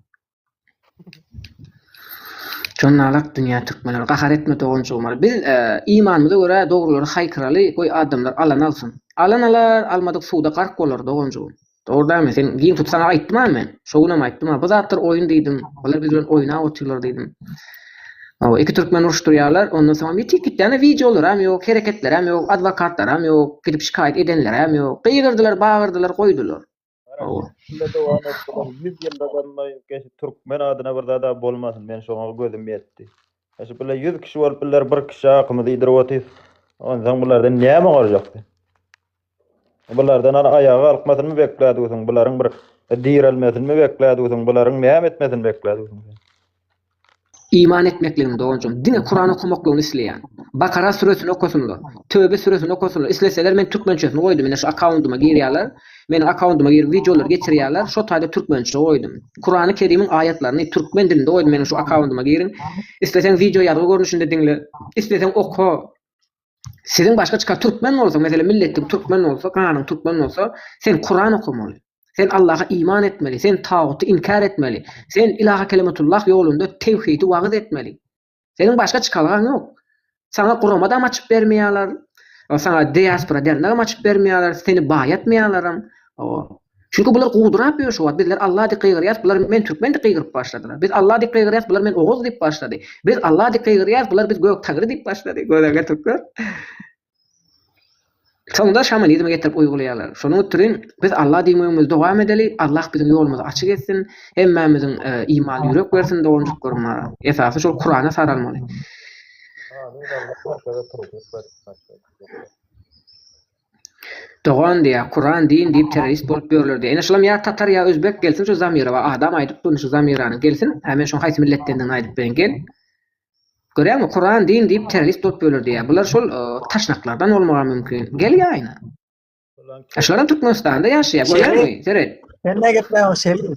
Jonnalak dünýä türkmenler gahar etme doganjygymar. Biz e, imanymyza görä dogrulary haýkyraly, goý adamlar alan alsyn. Alan alar, almadyk suwda gark bolar doganjygym. Dogrudanmy? Sen giň tut saňa aýtdym-a men. Şo günem aýtdym-a. Bu zatlar oýun diýdim. Olar biz bilen oýnap otyrlar diýdim. Hawa, iki türkmen uruşdurýarlar. Ondan soňam ýetik gitýäne wideolaram ýok, hereketleram ýok, adwokatlaram ýok, gidip şikaýat edenleram ýok. Gygyrdylar, bagyrdylar, goýdular. Garaşsyz şunda dowam et bular ýüz ýylda ganmaýyn keşi türkmen adyna bir zada bolmasyn men şoňa gözüm ýetdi keşi bular ýüz kişi bolup bular bir kişi akymyzy iýdirip otyrys onsaň bulardan näme gorjak sen bulardan ana aýaga galkmasyny beklädügüsiň bularyň bir direlmesini beklädügüsiň bularyň näme etmesini beklädügüsiň sen Iman etmekligini doganjygym diňe Kuran okamaklygyny isleýän. Bakara süresini okasynlar. Töbe süresini okasynlar. Isleseler men türkmençesini goýdum ine şu akkaundyma girýaler. Meniň akkaundyma girip wideolary geçirýaler. Şo taýda türkmençe goýdum. Kurany kerimiň aýatlaryny türkmen dilinde goýdum meniň şu akkaundyma giriň. Isleseň wideo ýazgy görnüşinde diňle. Isleseň oka. Siziň başga çykar türkmen bolsa, meselem milletiň türkmen bolsa, ganyň türkmen bolsa, sen Kuran okamaly. Sen Allaha iman etmeli, sen taguty inkär etmeli. Sen ilaha kelimatullah ýolunda tewhidi wagyz etmeli. Seniň başga çykalgaň ýok. Saňa gurama da açyp bermeýärler. Saňa diaspora dernek açyp bermeýärler, seni baýatmaýarlaram. Çünki bular gudurap ýör şu wagt, Bizler Alla dik gygyrýas, bular Men türkmen dik gygyryp başladylar. Biz Alla dik gygyrýas, bular Men oguz diýip başlady. Biz Alla dik gygyrýas, bular Biz gök tagry diýip başlady. Görerge türkler. Soňda şamanizmi getirip uýgulaýarlar. Şonuň ütriň biz Alla diýme öňümizi dowam edeli, Allah biziň ýolumyzy açyk etsin, hemmämiziň imanly ýürek bersin doganjyklarym. Esasy şol Kurana saralmaly. Dogan diýýär, Kuran din diýip terrorist bolup ýörler diýýär. Ine şulam ýa tatar ýa özbek gelsin şu Zamirowa adam aýdyp duryn şu Zamiranyň gelsin hä men şoň haýsy milletdendigini aýdyp berin gel. Görýäňmi Kuran din diýip terrorist bolup ýörler diýýär. Bular şol taşnaklardan bolmagam mümkin. Gel ýaýyna. Şular hem Türkmenistanda ýaşaýar görýäňmi seret. Sen näme gepleýäň şeýle.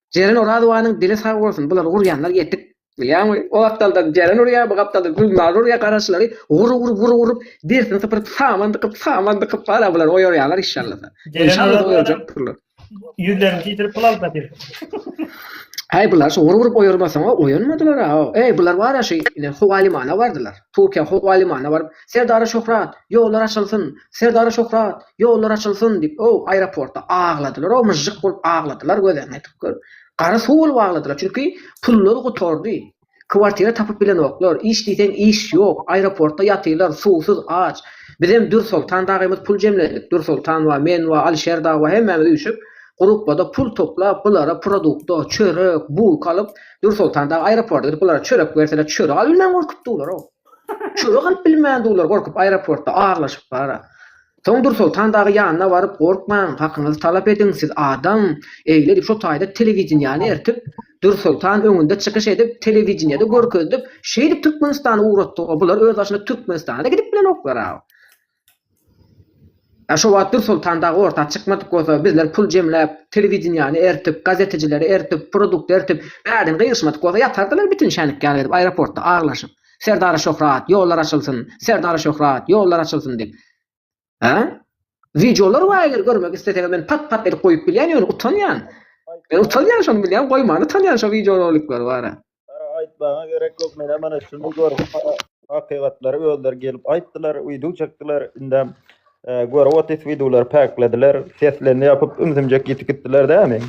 Jeren Orazowanyň dili sag bolsun bulary gurýanlar ýetik. Bilýäňmi o gapdaldan Jeren urýar bu gapdaldan Gülnar urýar garaşylary gur gur gur urup dersini sypyryp saman dykyp saman dykyp hala bulary oýarýarlar işşallasa işşallasa oýarjakdyrlar. Ýüzlerini titirip pul alyp gatyr. Häý bular şu gur urup oýarmasaňa oýanmadylar-a eý bular barýa şu ine howa limana bardylar Türkiýä howa limana baryp Serdara Şöhrat, ýollar açylsyn! Serdara Şöhrat, ýollar açylsyn! diýip, o, aeroportda agladylar-ow, myžžyk bolup agladylar, gözlerini ýetip gör. Gara suw bolup agladylar, çünki pullary gutardy. Kwartira tapyp bilenoklar, iş diýseň iş ýok, aeroportda ýatylar, suwsuz, aç. Bizem Dürsoltan dagymyz pul jemledik, Dürsoltan wa, men wa, Alyşer dagy wa hemmämiz üýşüp, grupbada pul toplap, bulara produkta, çörek, bulka alyp, Dürsoltan dagy aeroporda gidip, bulara çörek berseler, çörek alyp bilmän gorkup durlar-ow. Çörek alyp bilmän dullar gorkup aeroportda aglaşyp bara. Soň Dursoltan dagy ýanyna baryp gorkmaň, hakyňyzy talap ediň, siz adam, eýle edip şo taýda telewideniýäni ertip, Dursoltan öňünde çykyş edip, telewideniýede görkezdip, şeýdip Türkmenistany ugratdyga bular özbaşyna Türkmenistana-da gidip bilenoklar-a. Ýa şo wagt Dursoltan dagy orta çykmadyk bolsa, bizler pul jemläp, telewideniýäni eritip, gazeteçileri eritip, produkty eritip, bärden gygyşmadyk bolsa ýatardylar bitin şänik ýaly edip aeroportda aglaşyp, Serdara şöhrat, ýollar açylsyn, Serdara şöhrat, ýollar açylsyn diýip. Hä? Wideolar bar eger görmek isleseňiz men pat-pat edip goýup bilýän ýöne utanýan. Men utanýan şony bilýän goýman utanýan şo wideoroliklary bara. Aýtmaga gerek ýok, men hemen şuny görüp, hakykatlary özleri gelip aýtdylar, wideo çekdiler, indem görüp otyrys wideolary päklediler, seslerini ýapyp, ümsümjek ýitip gitdiler dämi?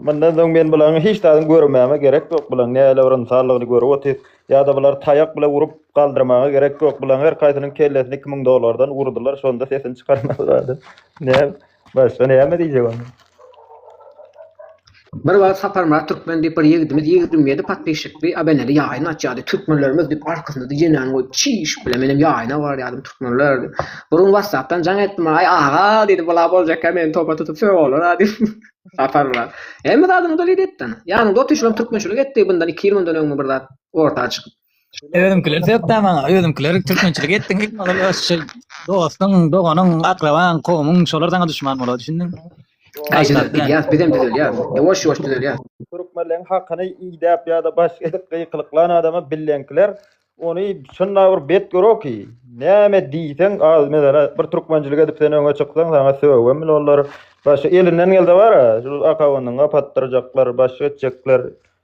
Mundan soň men bularyň hiç zadyny görmäme gerek ýok, bularyň näle bir ynsanlygyny görüp otyrys, ýa-da bulary taýak bilen urup galdyrmaga gerek ýok, bularyň her kaýsynyň kellesini iki müň dollardan urdular, şonda sesini çykarmazlardy. Başda näme diýjek onda? Bir wagt Saparmyrat Türkmen diýip bir ýigidimiz ýigrimi ýedi podpişikli abeneli ýaýyn açýardy. Türkmenlerimiz diýip arkasynda dijenäni goýup çiş bile menem ýaýyna barýardym türkmenler diýip. Bir gün wassapdan jaň etdi maňa aý aga diýdi bula boljakka meni topa tutup sög olara diýip. Saparmyrat. Hemme zadyňy doly diýipdi. Ýanyňda otyşylam türkmençilik etdi bundan iki ýyl mundan öňmi bir zat orta çykyp. Özümkiler sökdä maňa, özümkiler türkmençilik etdiň, maňa şol dostuň, doganyň, akrabaň, kowumyň şolar saňa düşman bolady, düşündiňmi? Gaýtadan gidýäs, bizem düzelýäs. Ýowaş-ýowaş düzelýäs. Türkmenleň hakyny idäp ýa-da başga edip gykylyklan adama billenkiler ony şunda bir bet göroki. Näme diýseň, az meselä bir türkmençilik edip sen öňe çyksaň, saňa sögübem bilolar. Başga elinden gelse bar-a, şol akabyndan gapatdyrjaklar, başga etjekler.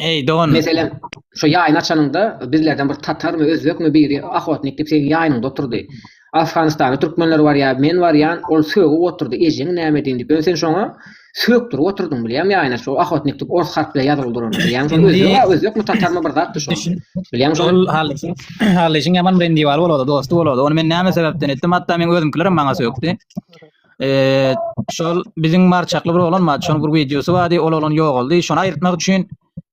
Eý don. Meselem, şo ýaýyny açanyňda, bizlerden bir tatarmy, özbekmi biri ahotnik diýip seniň ýaýynyňda oturdy. Afganystanda türkmenler bar ýa men barýan, ol sögüp oturdy, ejeň näme edin diýip. Ýöne sen şoňa sögüpdirip oturdyň bilýäňmi ýaýyny açyp. Şo ahotnik diýip ors harp bilen ýazylyp durany bilýäňmi? Şo özbek, özbekmi, tatarmy bir zatdy şo. Bilýäňmi şony? Ol hallyşyň, hallyşyň ýaman bilen diwary bolady, dosty bolady. Ony men näme sebäpden etdim? Hatda meň özümkilerem maňa sögdi. Eee, şol biziň marçakly bir oglan bar, şonuň bir wideosy bardy, ol oglan ýogaldy. Şony aýyrtmak üçin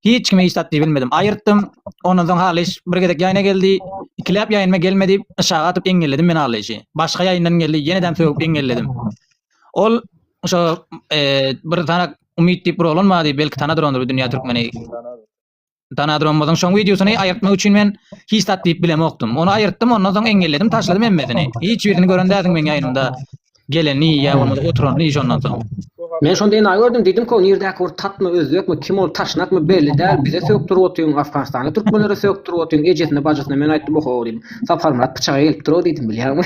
hiç kime isat diýip bilmedim. Aýyrtdym. Ondan soň Halyş bir gezek ýaýna geldi. Ikiläp ýaýnyma gelmedi. Yşaga atyp eňňelledim men Halyşy. Başga ýaýyndan geldi, ýene-de sögüp eňňelledim. Ol şo eee, bir tanak Umyt diýip bir oglan bardy, belki tanadyr ony Dünýä Türkmeni. Danadromumyzyň şoň wideosyny aýyrtmak üçin men hiç zat diýip bilemokdym. Ony aýyrtdym, ondan soň eňelledim, taşladym hemmesini. Hiç birini gören dälsiň meň ýaýnymda geleni ýa bolmasa oturanyny şondan soň. Men şonda enaýy gördüm, diýdimka, nirdäki bir tatmy, özbekmi, kim ol, taşnakmy, belli däl, bize sökdürip otyň, afganistanly türkmenlere sökdürip otyň, ejesine, bajysyna men aýtdym, oho, diýdim, Saparmyrat pyçaga gelip dur-ow diýdim, bilýäňmi?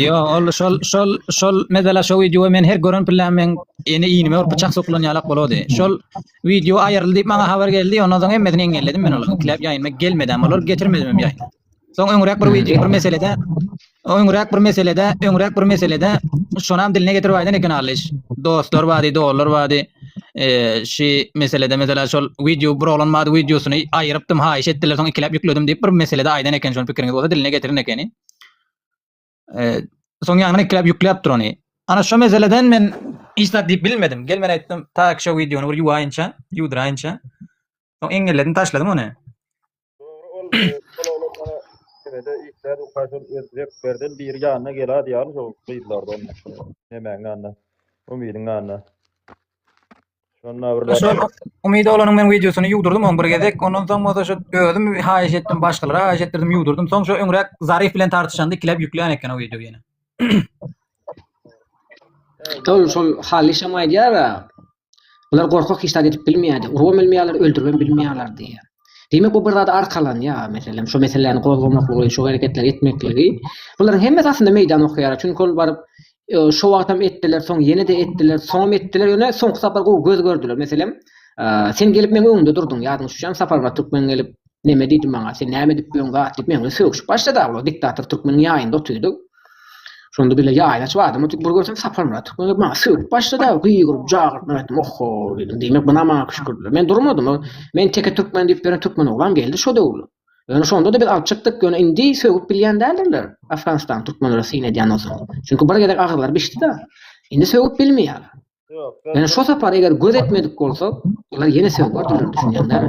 Ýok, ol şol, şol, şol, meselä, şo wideoy men her gören pillerim meň ene-inime bir pyçak sokulan ýalak bolady. Şol Wideo aýyryldy diýip maňa habar geldi. Ondan soň hemmesini engelledim men olary. Ikilep ýaýyna gelmedem olar getirmedimem ýaýyna. Soň öňräk bir wideo bir meselede öňräk bir meselede öňräk bir meselede şonam diline getirip aýdan eken Aliş. Dostlar bady, doganlar bady. Eee şu meselede mesela şol wideo bir oglan bady wideosyny aýyrypdym, haýyş etdiler soň ikilep ýükledim diýip bir meselede aýdan eken şony pikiriňiz bolsa diline getirin ekeni. E, soň ýaňyny ikläp ýükläp dur ony. Ana şu meseleden men hiç zat diýip bilmedim. Gel men aýtdym, ta şu wideony bir ýuwaýynça, ýuwdyraýynça. Soň eňňelledim, taşladym ony. Dogry ol bolaglar mana Mehmede işler ukaşyl özbek berden biri ýanyna geladi ýaly şol gyzlardan. Nemäň ýanyna? Umydyň ýanyna. Şonda bir Şu Umyda olanyň men wideosyny ýuwdurdym on bir gezek. Ondan soň bolsa şu özüm haýyş etdim, başgalara haýyş etdirdim, ýuwdurdym. Soň şu öňräk Zarif bilen tartyşanda ikilep ýüklän eken o wideo ýene. Şol şol halyşam aýdýar. Bular gorkak hiç zat edip bilmeýärdi. Urubam bilmeýärler, öldüribem bilmeýärler diýýär. Diýmek, bu bir zada arkalanýar, meselem, şu meseläni gozgamaklygy, şu hereketleri etmekligi. Bularyň hemmesi aslynda meýdan okaýar, çünki ol baryp, e, şu wagtam etdiler, soň ýene-de etdiler, soňam etdiler, ýöne soňky sapar gowy göz gördüler. Meselem, e, sen gelip meň öňümde durduň, ýadyňa düşýärmi, Saparmyrat Türkmen gelip, neme diýdi maňa, sen näme edip ýörüň, gat diýip, meň bilen sögüşip başlady, diktator türkmeniň ýaýynda otyrdyk. Şonda bile ýaýla açyp adam oturyp bir görsem Saparmyrat Türkmen maňa sögüp başlady, gygyryp, jagyryp men aýtdym, Ohho diýdim, diýmek buna maňa küşkürdiler. Men durmadym, men teke türkmen diýip beren türkmen oglam geldi şo döwür. Ýöne şonda-da biz alyp çykdyk, ýöne indi sögüp bilýän däldirler Afganistan türkmenleri syn edýänden soň. Çünki bir gezek agzylary bişdi-de, indi sögüp bilmeýärler. Ýöne şo sapar eger göz etmedik bolsak, olar ýene sögüp durlar düşünýäňdämi?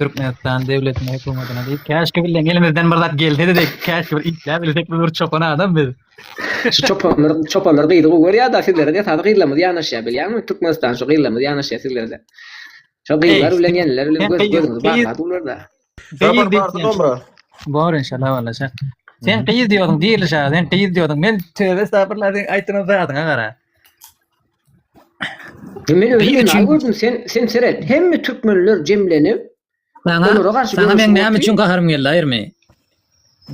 Türkmenistan döwletine hökümetine diýip käşki bilen elimizden bir zat gelsedi diýip käşki bir işläp bilsek biz bir çopan adam biz. Şu çopanlar çopanlar gyzy gowy görýärdi sizlere de tazy gyzlarymyz ýanaşýar bilýärmi Türkmenistan şu gyzlarymyz ýanaşýar sizlere de. Şu gyzlar bilen ýeneler bilen göz gözüňiz bakar bularda. Gyz diýip. Bor inşallah walla şa. Sen gyz diýýordyň diýilişä sen gyz diýýordyň men töbe estagfirullah sen aýtdyran zadyňa gara. Men öýle üçin gördüm sen sen seret hemme türkmenler jemlenip Sana onlara garşy Sana men näme üçin gaharym geldi aýyrmy?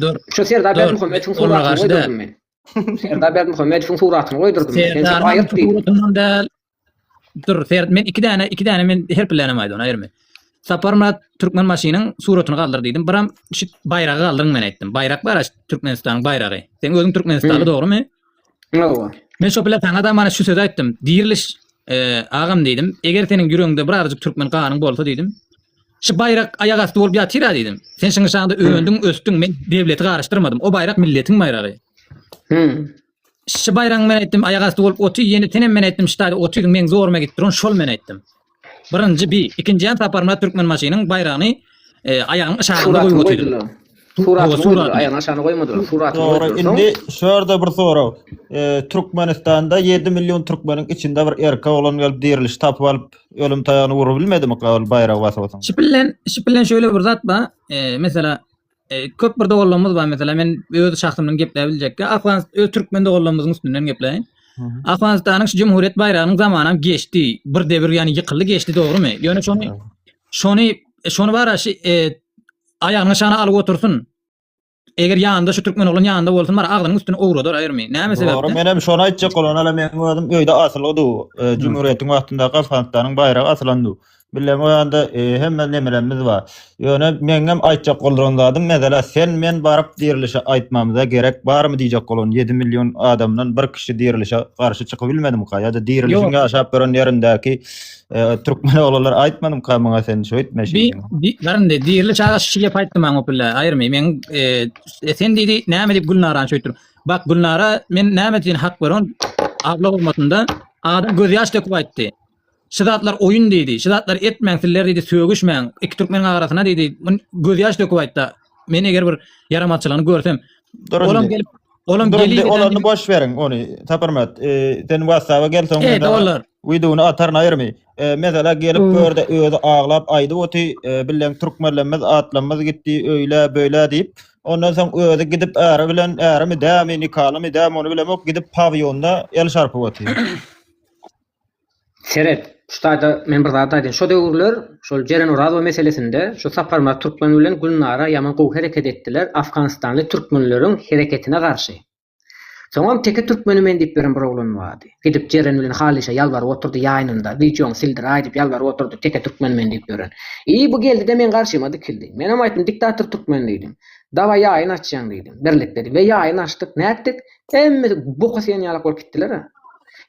Dur. Şu Serdar Berdimuhamedowyň suratyny goýdum men. Serdar Berdimuhamedowyň suratyny goýdum. Sen sen aýyrt diýdim. Dur, Serdar men iki däne iki däne men her bilenem aýdym aýyrmy? Saparmyrat Türkmen maşynyň suratyny galdyr diýdim. Biram şu baýragy galdyryň men aýtdym. Baýrak bar Türkmenistanyň baýragy. Sen özüň Türkmenistanly dogrymy? Hawa. Men şo plakana-da mana şu sözi aýtdym. Diriliş, e, agam diýdim. Eger seniň ýüregiňde bir aryjyk türkmen ganyň bolsa diýdim. Şu baýrak aýak asty bolup ýatyr-a diýdim. Sen şuň şaňda öndüň, ösdüň, men dewleti garyşdyrmadym. O baýrak milletiň baýragy. Hmm. Şu baýragyň men aýtdym aýak asty bolup oty, ýene senem men aýtdym şu taýda otyň meň zoruma gidip duran şol men aýtdym. Birinji bi, ikinji ýan Saparmyrat Türkmenbaşynyň baýragyny e, aýagynyň yşarynda goýup otyrdylar. Suratyny goýdular, aýagynyň aşagyna goýmadylar, suratyny goýdular. Soň indi şu ýerde bir sorag. E, Türkmenistanda 7 million türkmeniň içinde bir erkek oglan gelip diriliş tapyp alyp, ölüm taýagyny urup bilmedimi, baýragy basyp otyň? Şipillen, şipillen şöyle bir zat ba, e, mesela E, köp bir doganlarymyz bar mesela men öz şahsymdan gepläp biljekki Afganistan öz türkmen doganlarymyzyň üstünden gepläýin. Afganistanyň şu jumhuriyet baýragynyň zamanam geçdi. Bir debir ýani ýykyldy geçdi dogrumy? Ýöne şony şony şony bara şu e, aýagyny şana alyp otursyn. Eger ýanynda şu türkmen oglan ýanynda bolsun bar agzynyň üstüni owradar aýyrmy? Näme sebäpden? Dogry, men hem şony aýtjak bolan ala men özüm öýde asylgydy. E, jumhuriyetiň wagtynda Afganistanyň baýragy asylandy. Bileň o ýanda e, hemme nemelerimiz bar. Ýöne meňňem aýtjak bolduran zadym mesela sen men baryp dirilişe aýtmamyza gerek barmy diýjek bolan 7 million adamdan bir kişi dirilişe garşy çykyp bilmedimka ýa-da dirilişiň Ýok. ýaşap gören ýerindäki e, türkmen oglanlar aýtmadymka maňa sen şöýtme Di, şeýtme. di, garyndy, dirili çaga şu gep aýtdy maňa opilla, aýyrmy, men, e, e, sen diýdi, näme diýip Gülnarany şöýtdürip. Bak, Gülnara, men näme üçin hak beron, abla hormatynda, adam gözýaş döküp aýtdy. Şu zatlar oýun diýdi. Şu zatlary etmäň sizler diýdi, sögüşmäň. Iki türkmeniň arasyna diýdi, gözýaş döküp aýtdy. Men eger bir ýaramazçylygyny görsem, Durun olam diýdi. gelip, olam Durun gelip diýdi, olaryny boş beriň ony. Saparmyrat, e, sen WhatsApp-a gel soň Eýde mydama olar. wideony ataryn aýyrmy. E, Mesela gelip Öö. gör-de özi aglap aýdyp oty, e, bilen türkmenlerimiz atlarymyz gitdi öýle böyle diýip. Ondan soň özi gidip äri bilen ärimi dämi nikalymy dämi ony bilemok gidip pawýonda el şarpyp oty. Seret, şu taýda men bir zat aýdaýyn. Şo döwürler şol Jeren Orazow meselesinde şu Saparmyrat Türkmen bilen Gülnara ýaman gowy hereket etdiler, afganistanly türkmenleriň hereketine garşy. Soňam teke türkmeni men diýip beren bir oglan bardy. Gidip Jeren bilen Halişe ýalbaryp oturdy ýaýynynda, wideoňy sildir-aý diýip ýalbaryp oturdy, teke türkmeni men diýip beren. I bu geldi-de meň garşyma dikildi. Menem aýtdym, diktator türkmen diýdim. Dawaý ýaýyn açýaň diýdim, birlikde diýdim. We ýaýyn açdyk, nätdik? Hemmesi boka sigen ýalak bolup gitdiler-ä.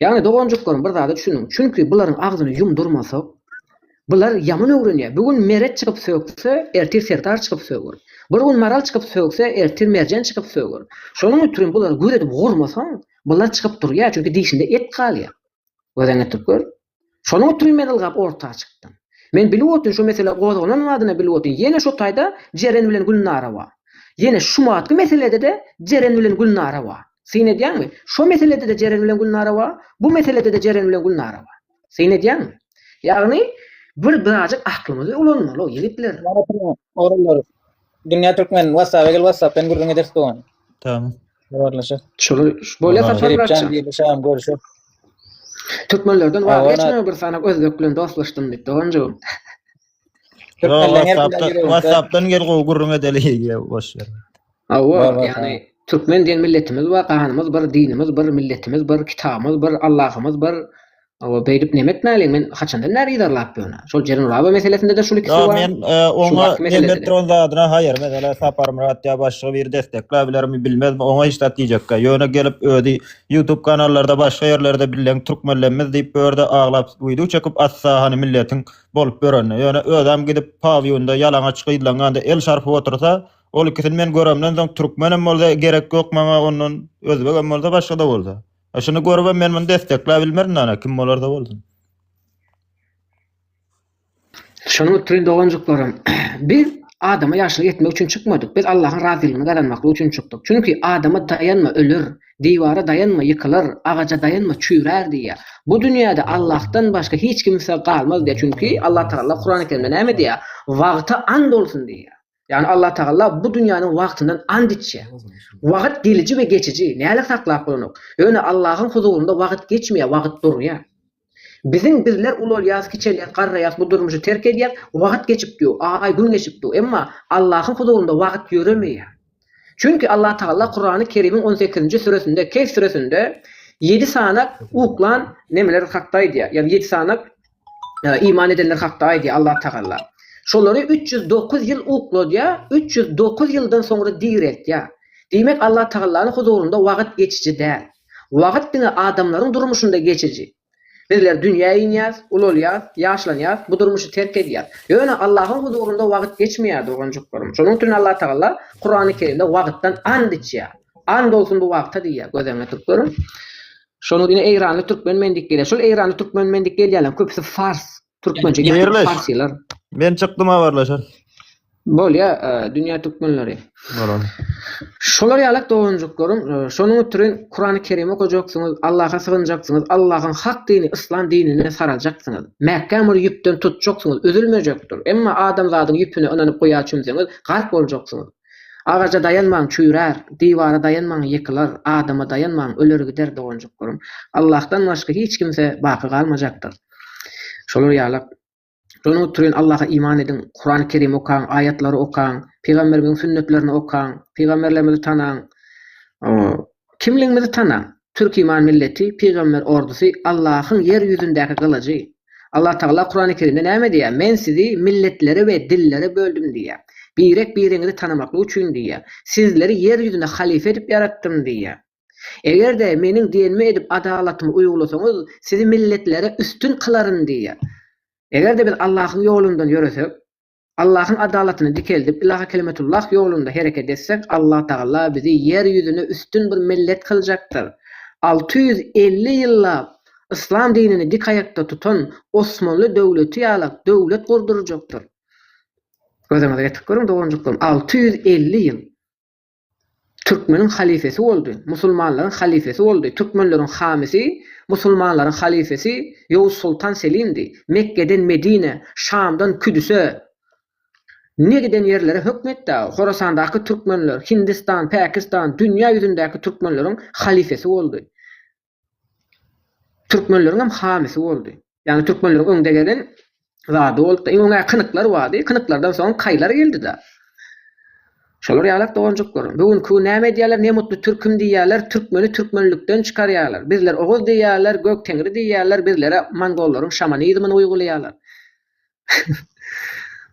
Ýagny doganjyklarym bir zada düşüniň, çünki bularyň agzyny ýumdurmasak, bular ýaman öwrenýär. Bu gün Meret çykyp sökse, ertir Serdar çykyp söger. Bir gün Maral çykyp sökse, ertir Merjen çykyp söger. Şonuň üçin bulary gür edip gurmasaň, bular çykyp durýar, çünki dişinde et galýar. Gözden getirip gör. Şonuň üçin men ylgap orta çykdym. Men bilip otyn şu mesele gozgalan badyna bilip otyn ýene şu taýda Jeren bilen Gülnara bar. Ýene şumatky meselede-de Jeren bilen Gülnara bar. Syn edýäňmi? Şo meselede-de Jeren bilen Gülnara bar, bu meselede-de Jeren bilen Gülnara bar. Syn edýäňmi? Ýagny bir birazjyk aklymyzy ulanmaly ýigitler. Ýaratyn Orunbarow. Dünýä Türkmen, WhatsApp-a gel WhatsApp-dan gürrüň ederis dogan. Tamam. Habarlaşa. Şuly bolýa Saparmyrat. Şeripjan diýip şam görüşe. Türkmenlerden waz geçme bir sanak özbek bilen dostlaşdym diýip doganjygym. WhatsApp'dan gel gowy gürrüň edeli diýip boş ýer. Awa, ýagny türkmen diýen milletimiz bar, ganymyz bir, dinimiz bir, milletimiz bir, kitabymyz bir, Allahymyz bir. Hawa, beýdip näme etmäliň? Men haçandan bäri yzarlap ýörün-ä. Şol Jerenlaba meselesinde-de şul ikisi bar. Ýok, men oňa näme etdirýän zadyna haýyr. Meselem, Saparmyrat ýa başga biri destekläp bilermi, bilmezmi, oňa hiç zat diýjekkä. Ýöne gelip özi YouTube kanallarda, başga ýerlerde billeň türkmenlenmez diýip bu ýerde aglap wideo çekip atsa hany milletiň bolup ýörende. Ýöne özem gidip pawiýonda ýalaňaç gyzlaňňanda el çarpyp otursa, ol ikisini men göremden soň türkmenem bolsa gerek ýok maňa ondan özbegem bolsa başgada bolsa. Şuny görübem men muny destekläp bilmerin ana kim bolarda bolsun. Şony oturyň doganjyklarym. Biz adama ýagşylyk etmek üçin çykmadyk. Biz Allahyň razylygyny gazanmaklyk üçin çykdyk. Çünki adama daýanma öler, diwara daýanma ýykylar, agaja daýanma çüýrär diýýär. Bu dünýäde Allahdan başga hiç kimse galmaz diýýär. Çünki Allatagala Kurany Kerimde näme diýýär? Wagta and bolsun diýýär. Ýagny Allah Tagalla bu dünýäniň wagtyndan ant içýär. Wagt geliji we geçiji, näle saklap bolanok. Ýöne Allahyň huzurynda wagt geçmeýär, wagt durýar. Biziň bizler ulalýas, kiçelýäs, garraýas, bu durmuşy terk edýäs, wagt geçip dur, aý, gün geçip dur, emma Allahyň huzurynda wagt ýöremeýär. Çünki Allah Tagalla Kurany Kerimiň on sekizinji süresinde, Kehf süresinde ýedi sanak uklan nemeler hakda aýdýar, ýagny ýedi sanak Iman edenler hakda aýdýar Allatagala. Şolary üç ýüz dokuz ýyl ukladýar, üç ýüz dokuz ýyldan soňra direltýär. Diýmek, Allatagalanyň huzurynda wagt geçiji däl. Wagt diňe adamlaryň durmuşynda geçiji. Bizler dünýä inýäs, ulalýas, ýaşlanýas, bu durmuşy terk edýäs. Ýöne Allahyň huzurynda wagt geçmeýär, doganjyklarym. Şonuň üçin Allatagala Kurany Kerimde wagtdan and içýär. And olsun bu wagta diýýär, göz öňüne tutup görüň. Şonuň ine eýranly türkmen men diýip gelýär. Şol eýranly türkmen men diýip gelýänleriň köpüsi fars. Türkmençe gepleýän Haýyrlyş. farslar. Men çykdym habarlaşar. Bolýa e, dünýä türkmenleri. Bolar. Şolar ýalak doganjyklaryň e, şonuň üçin Kurany Kerim okajaksyňyz, Allaha sygynjaksyňyz, Allahyň hak dini yslam dinine saraljaksyňyz. Mäkäm bir ýüpden tutjaksyňyz, üzülmejekdir. Emma adamzadyň ýüpüne ynanyp guýa çümseňiz, gark boljaksyňyz. Agaja daýanmaň çüýrär, diwara daýanmaň ýykylar, adama daýanmaň öler gider doganjyklarym. Allahdan başga hiç kimse baky galmajakdyr. Şolar ýalak. Şonuň üçin Allaha iman ediň, Kurany Kerim okaň, aýatlary okaň, pygamberimiziň sünnetlerini okaň, pygamberlerimizi tanaň. Kimligiňizi tanaň! Türkiman milleti, pygamber ordusy, Allahyň ýer ýüzündäki gylyjy. Allatagala Kurany Kerimde näme diýýär? Men sizi milletlere we dillere böldüm diýýär. Birek biriňizi tanamaklyk üçin diýýär. Sizleri ýer ýüzünde halyfa edip ýaratdym diýýär. Eger-de meniň diýenimi edip adalatymy uýgulasaňyz sizi milletlere üstün kylaryn diýýär. Eger-de biz Allahyň ýolundan ýöresek, Allahyň adalatyny dikeldip, Ilaha kelimetullah ýolunda hereket etsek, Allah Tagala bizi ýer ýüzüne üstün bir millet kyljakdyr. Alty ýüz elli ýyllap Yslam dinini dik aýakda tutan Osmanly döwleti ýala döwlet gurdurjakdyr. Gözüňize getirip görüň, doganjyklarym, alty ýüz elli ýyl! Türkmeniň halyfesi boldy, musulmanlaryň halyfesi boldy, türkmenleriň hamisi, musulmanlaryň halyfesi Ýowuz soltan Selimdi, Mekgeden Medinä, Şamdan Küdüse, ne giden ýerlere hökm etdi-ä, Horasandaky türkmenler, Hindistan, Päkistan, dünýä ýüzündäki türkmenleriň halyfesi boldy. Türkmenleriň hem hamysy boldy. Ýagny türkmenleriň öňde gelen zady boldy-da. Iň öňe kynyklar bardy. Kynyklardan soň kaýlar geldi-de. Şolar ýalak doganjyklarym. Bu günki gün näme edýärler? Ne mutlu türküm diýýärler, türkmeni türkmenlikden çykarýarlar. Bizler oguz diýýärler, gök teňri diýýärler, bizlere mongollaryň şamanizmini uýgulaýarlar.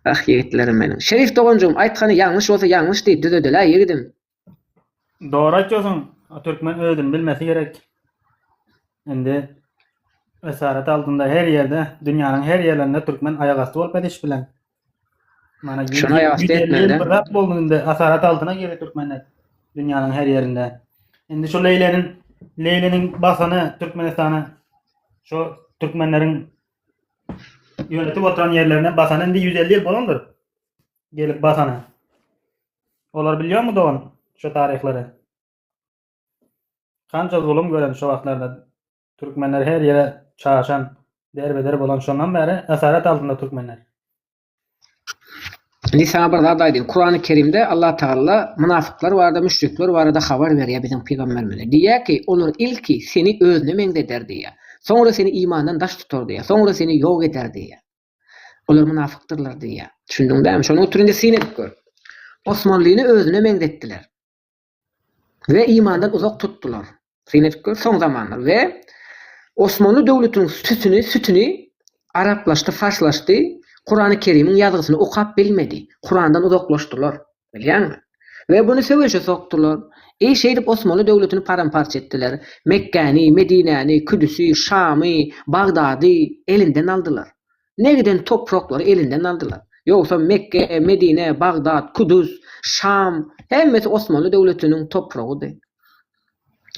Ah, ýigitlerim meniň. Şerif doganjygym, aýtgany ýalňyş bolsa ýalňyş diý, düzedel-ä ýigidim. Dogry aýtýarsyň, türkmen özüni bilmesi gerek. Indi esaret aldynda her ýerde, dünýäniň her ýerlerinde türkmen aýak asty bolup ediş bilen. Mana Şuna aýak asty etmeli. Bir zat boldy indi esaret aldyna geri türkmenler dünýäniň her ýerinde. Indi şu Leýleniň Leýleniň basany Türkmenistana şu türkmenleriň ýönetip oturan ýerlerine basany indi 150 ýyl bolandyr. gelip basana. Olar bilýärmi dogan şu taryhlary? Kança zulum gören şu wagtlarda türkmenler her ýere çaşan, derbeder bolan şondan bäri esaret altynda türkmenler. Indi sana bir zat aýdyň. Kurany Kerimde Allah Tagalla mynafyklar barada, müşrikler barada habar berýär biziň pygamberimize. Diýýär ki, olar ilki seni özüne meňzeder diýýär. Soňra seni imandan daş tutar diýýär. Soňra seni ýok eder diýýär. Olar mynafykdyrlar diýýär. Düşündiň dämi? Şony otur indi syn edip gör. Osmanlyny özüne meňzetdiler. Ve imandan uzak tutdular. Syn edip gör, soň zamanlar. Ve Osmanly döwletiniň sütüni, sütüni araplaşdy, farslaşdy. Kurany Kerimiň ýazgysyny okap bilmedi. Kurandan uzaklaşdylar. Bilýäňmi? We buny söweşe sokdular. Eý, şeýdip Osmanly döwletini param-parça etdiler. Mekgäni, Medinäni, Küdüsi, Şamy, Bagdady elinden aldylar. Ne giden topraklary elinden aldylar. Ýogsam Mekge, Medine, Bagdat, Kudus, Şam hemmesi Osmanly döwletiniň topragydy.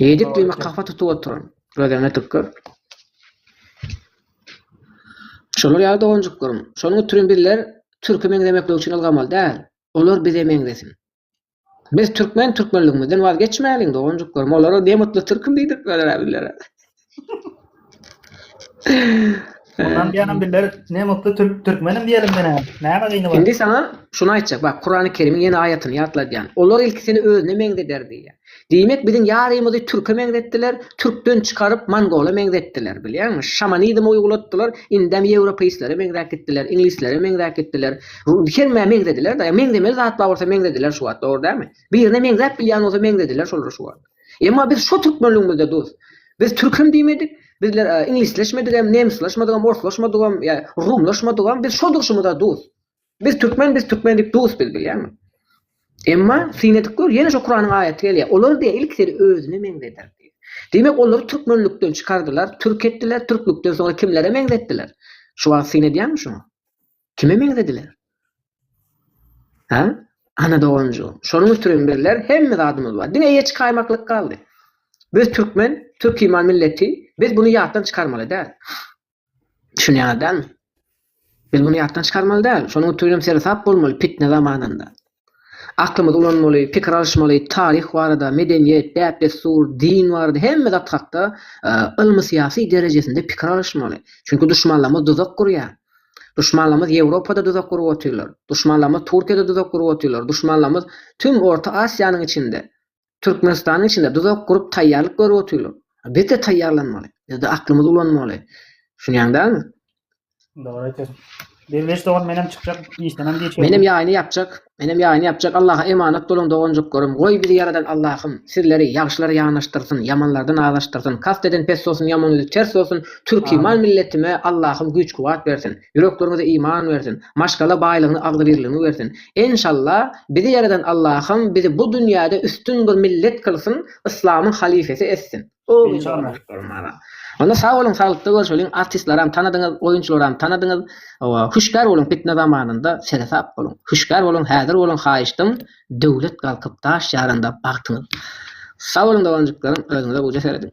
Ýedik diýme kafa tutup oturan. Gözleňe tükür. Şolar ýaly doganjyklarym. Şonuň üçin bizler türke meňzemeklik üçin ylgamaly däl. Olar bize meňzesin. Biz türkmen türkmenligimizden wazgeçmäliň doganjyklarym. Olara ne mutly türküm diýdirip bileler-ä bizlere. Ondan diýenim biller ne mutlu türk türkmenim diýelim menä. Näme gyny bar? Indi sana şunu aýtjak. Bak Kurany Kerimiň ýene aýatyny ýatladýan. Olar ilki seni özüne meňzeder diýýär. Diýmek biziň ýarymyzy türke meňzetdiler, türkden çykaryp mongola meňzetdiler. Bilýäňmi? Şamanizm uýgulatdylar, indem ýewropeistlere meňzäp gitdiler, iňlislere meňzäp gitdiler. Hemmä meňzediler-de. Meňzemeli zat bar bolsa meňzediler şu wagt, dogry dälmi? Birine meňzäp bilýän bolsa meňzediler şolary şu wagt. Emma biz şo türkmenligimizde dos. Biz türkem diýmedik, bizler iňlisleşmedigem, nemsleşmedigem, orslaşmadygam, ýa rumlaşmadygam, biz şo durşumyza dos. Biz türkmen, biz türkmen diýip dos biz bilýäňmi? Emma synedik gör, ýene şo Kuranyň aýaty gelýär. Olar diýe ilk seni özüne meňzeder diýip. Diýmek, olary türkmenlikden çykardylar, türk etdiler, türklükden soňra kimlere meňzetdiler? Şu wagt syn edýäňmi şuňa? Kime meňzediler? Ha? Ana doganjygym. Şonuň üçin bizler hemme zadymyz bar. Diňe eýe çykaýmaklyk galdy. Biz türkmen, türkiman milleti, biz bunu ýatdan çykarmaly däl. Düşünýäňiz dälmi? Biz bunu ýatdan çykarmaly däl. Şonuň üçin hem seresap bolmaly pitne zamanynda. Aklymyzy ulanmaly, pikir alyşmaly, taryh barada, medeniýet, däp-dessur, din barada hemme zat hakda ylmy-syýasy derejesinde pikir alyşmaly. Çünki duşmanlarymyz duzak gurýar. Duşmanlarymyz Ýewropada duzak gurup otyrlar. Duşmanlarymyz Türkiýede duzak gurup otyrlar. Duşmanlarymyz tüm Orta Asiýanyň içinde. Türkmenistanyň içinde duzak gurup taýýarlyk görüp otyrlar. Biz-de taýýarlanmaly. Biz-de aklymyzy ulanmaly. Düşünýäň dälmi? Dogry aýtýasyň. Derweş dogan menem çykjak, işdenem geç geldim. Menem ýaýyny ýapjak. Menem ýaýyny ýapjak. Allaha emanat boluň doganjyklarym. Goý bizi ýaradan Allahym sizleri ýagşylara ýanaşdyrsyn, ýamanlardan azaşdyrsyn. Kast eden pes bolsun, ýaman ýüzi ters bolsun. Türkiman milletime Allahym güýç-kuwwat bersin. Ýürekleriňize iman bersin. Maşgala baýlygyny agzybirligini bersin. Enşalla bizi ýaradan Allahym bizi bu dünýäde üstün bir millet kylsyn yslamyň halyfesi etsin. Amin jana. Onda sag boluň saglykda görşeliň artistlaram tanadyňyz oýunçylaram tanadyňyz owa hüşgär boluň pitne zamanynda seresap boluň hüşgär boluň häzir boluň haýyştym döwlet galkyp daş ýaranda bagtyňyz sag boluň doganjyklarym özüňize guja serediň.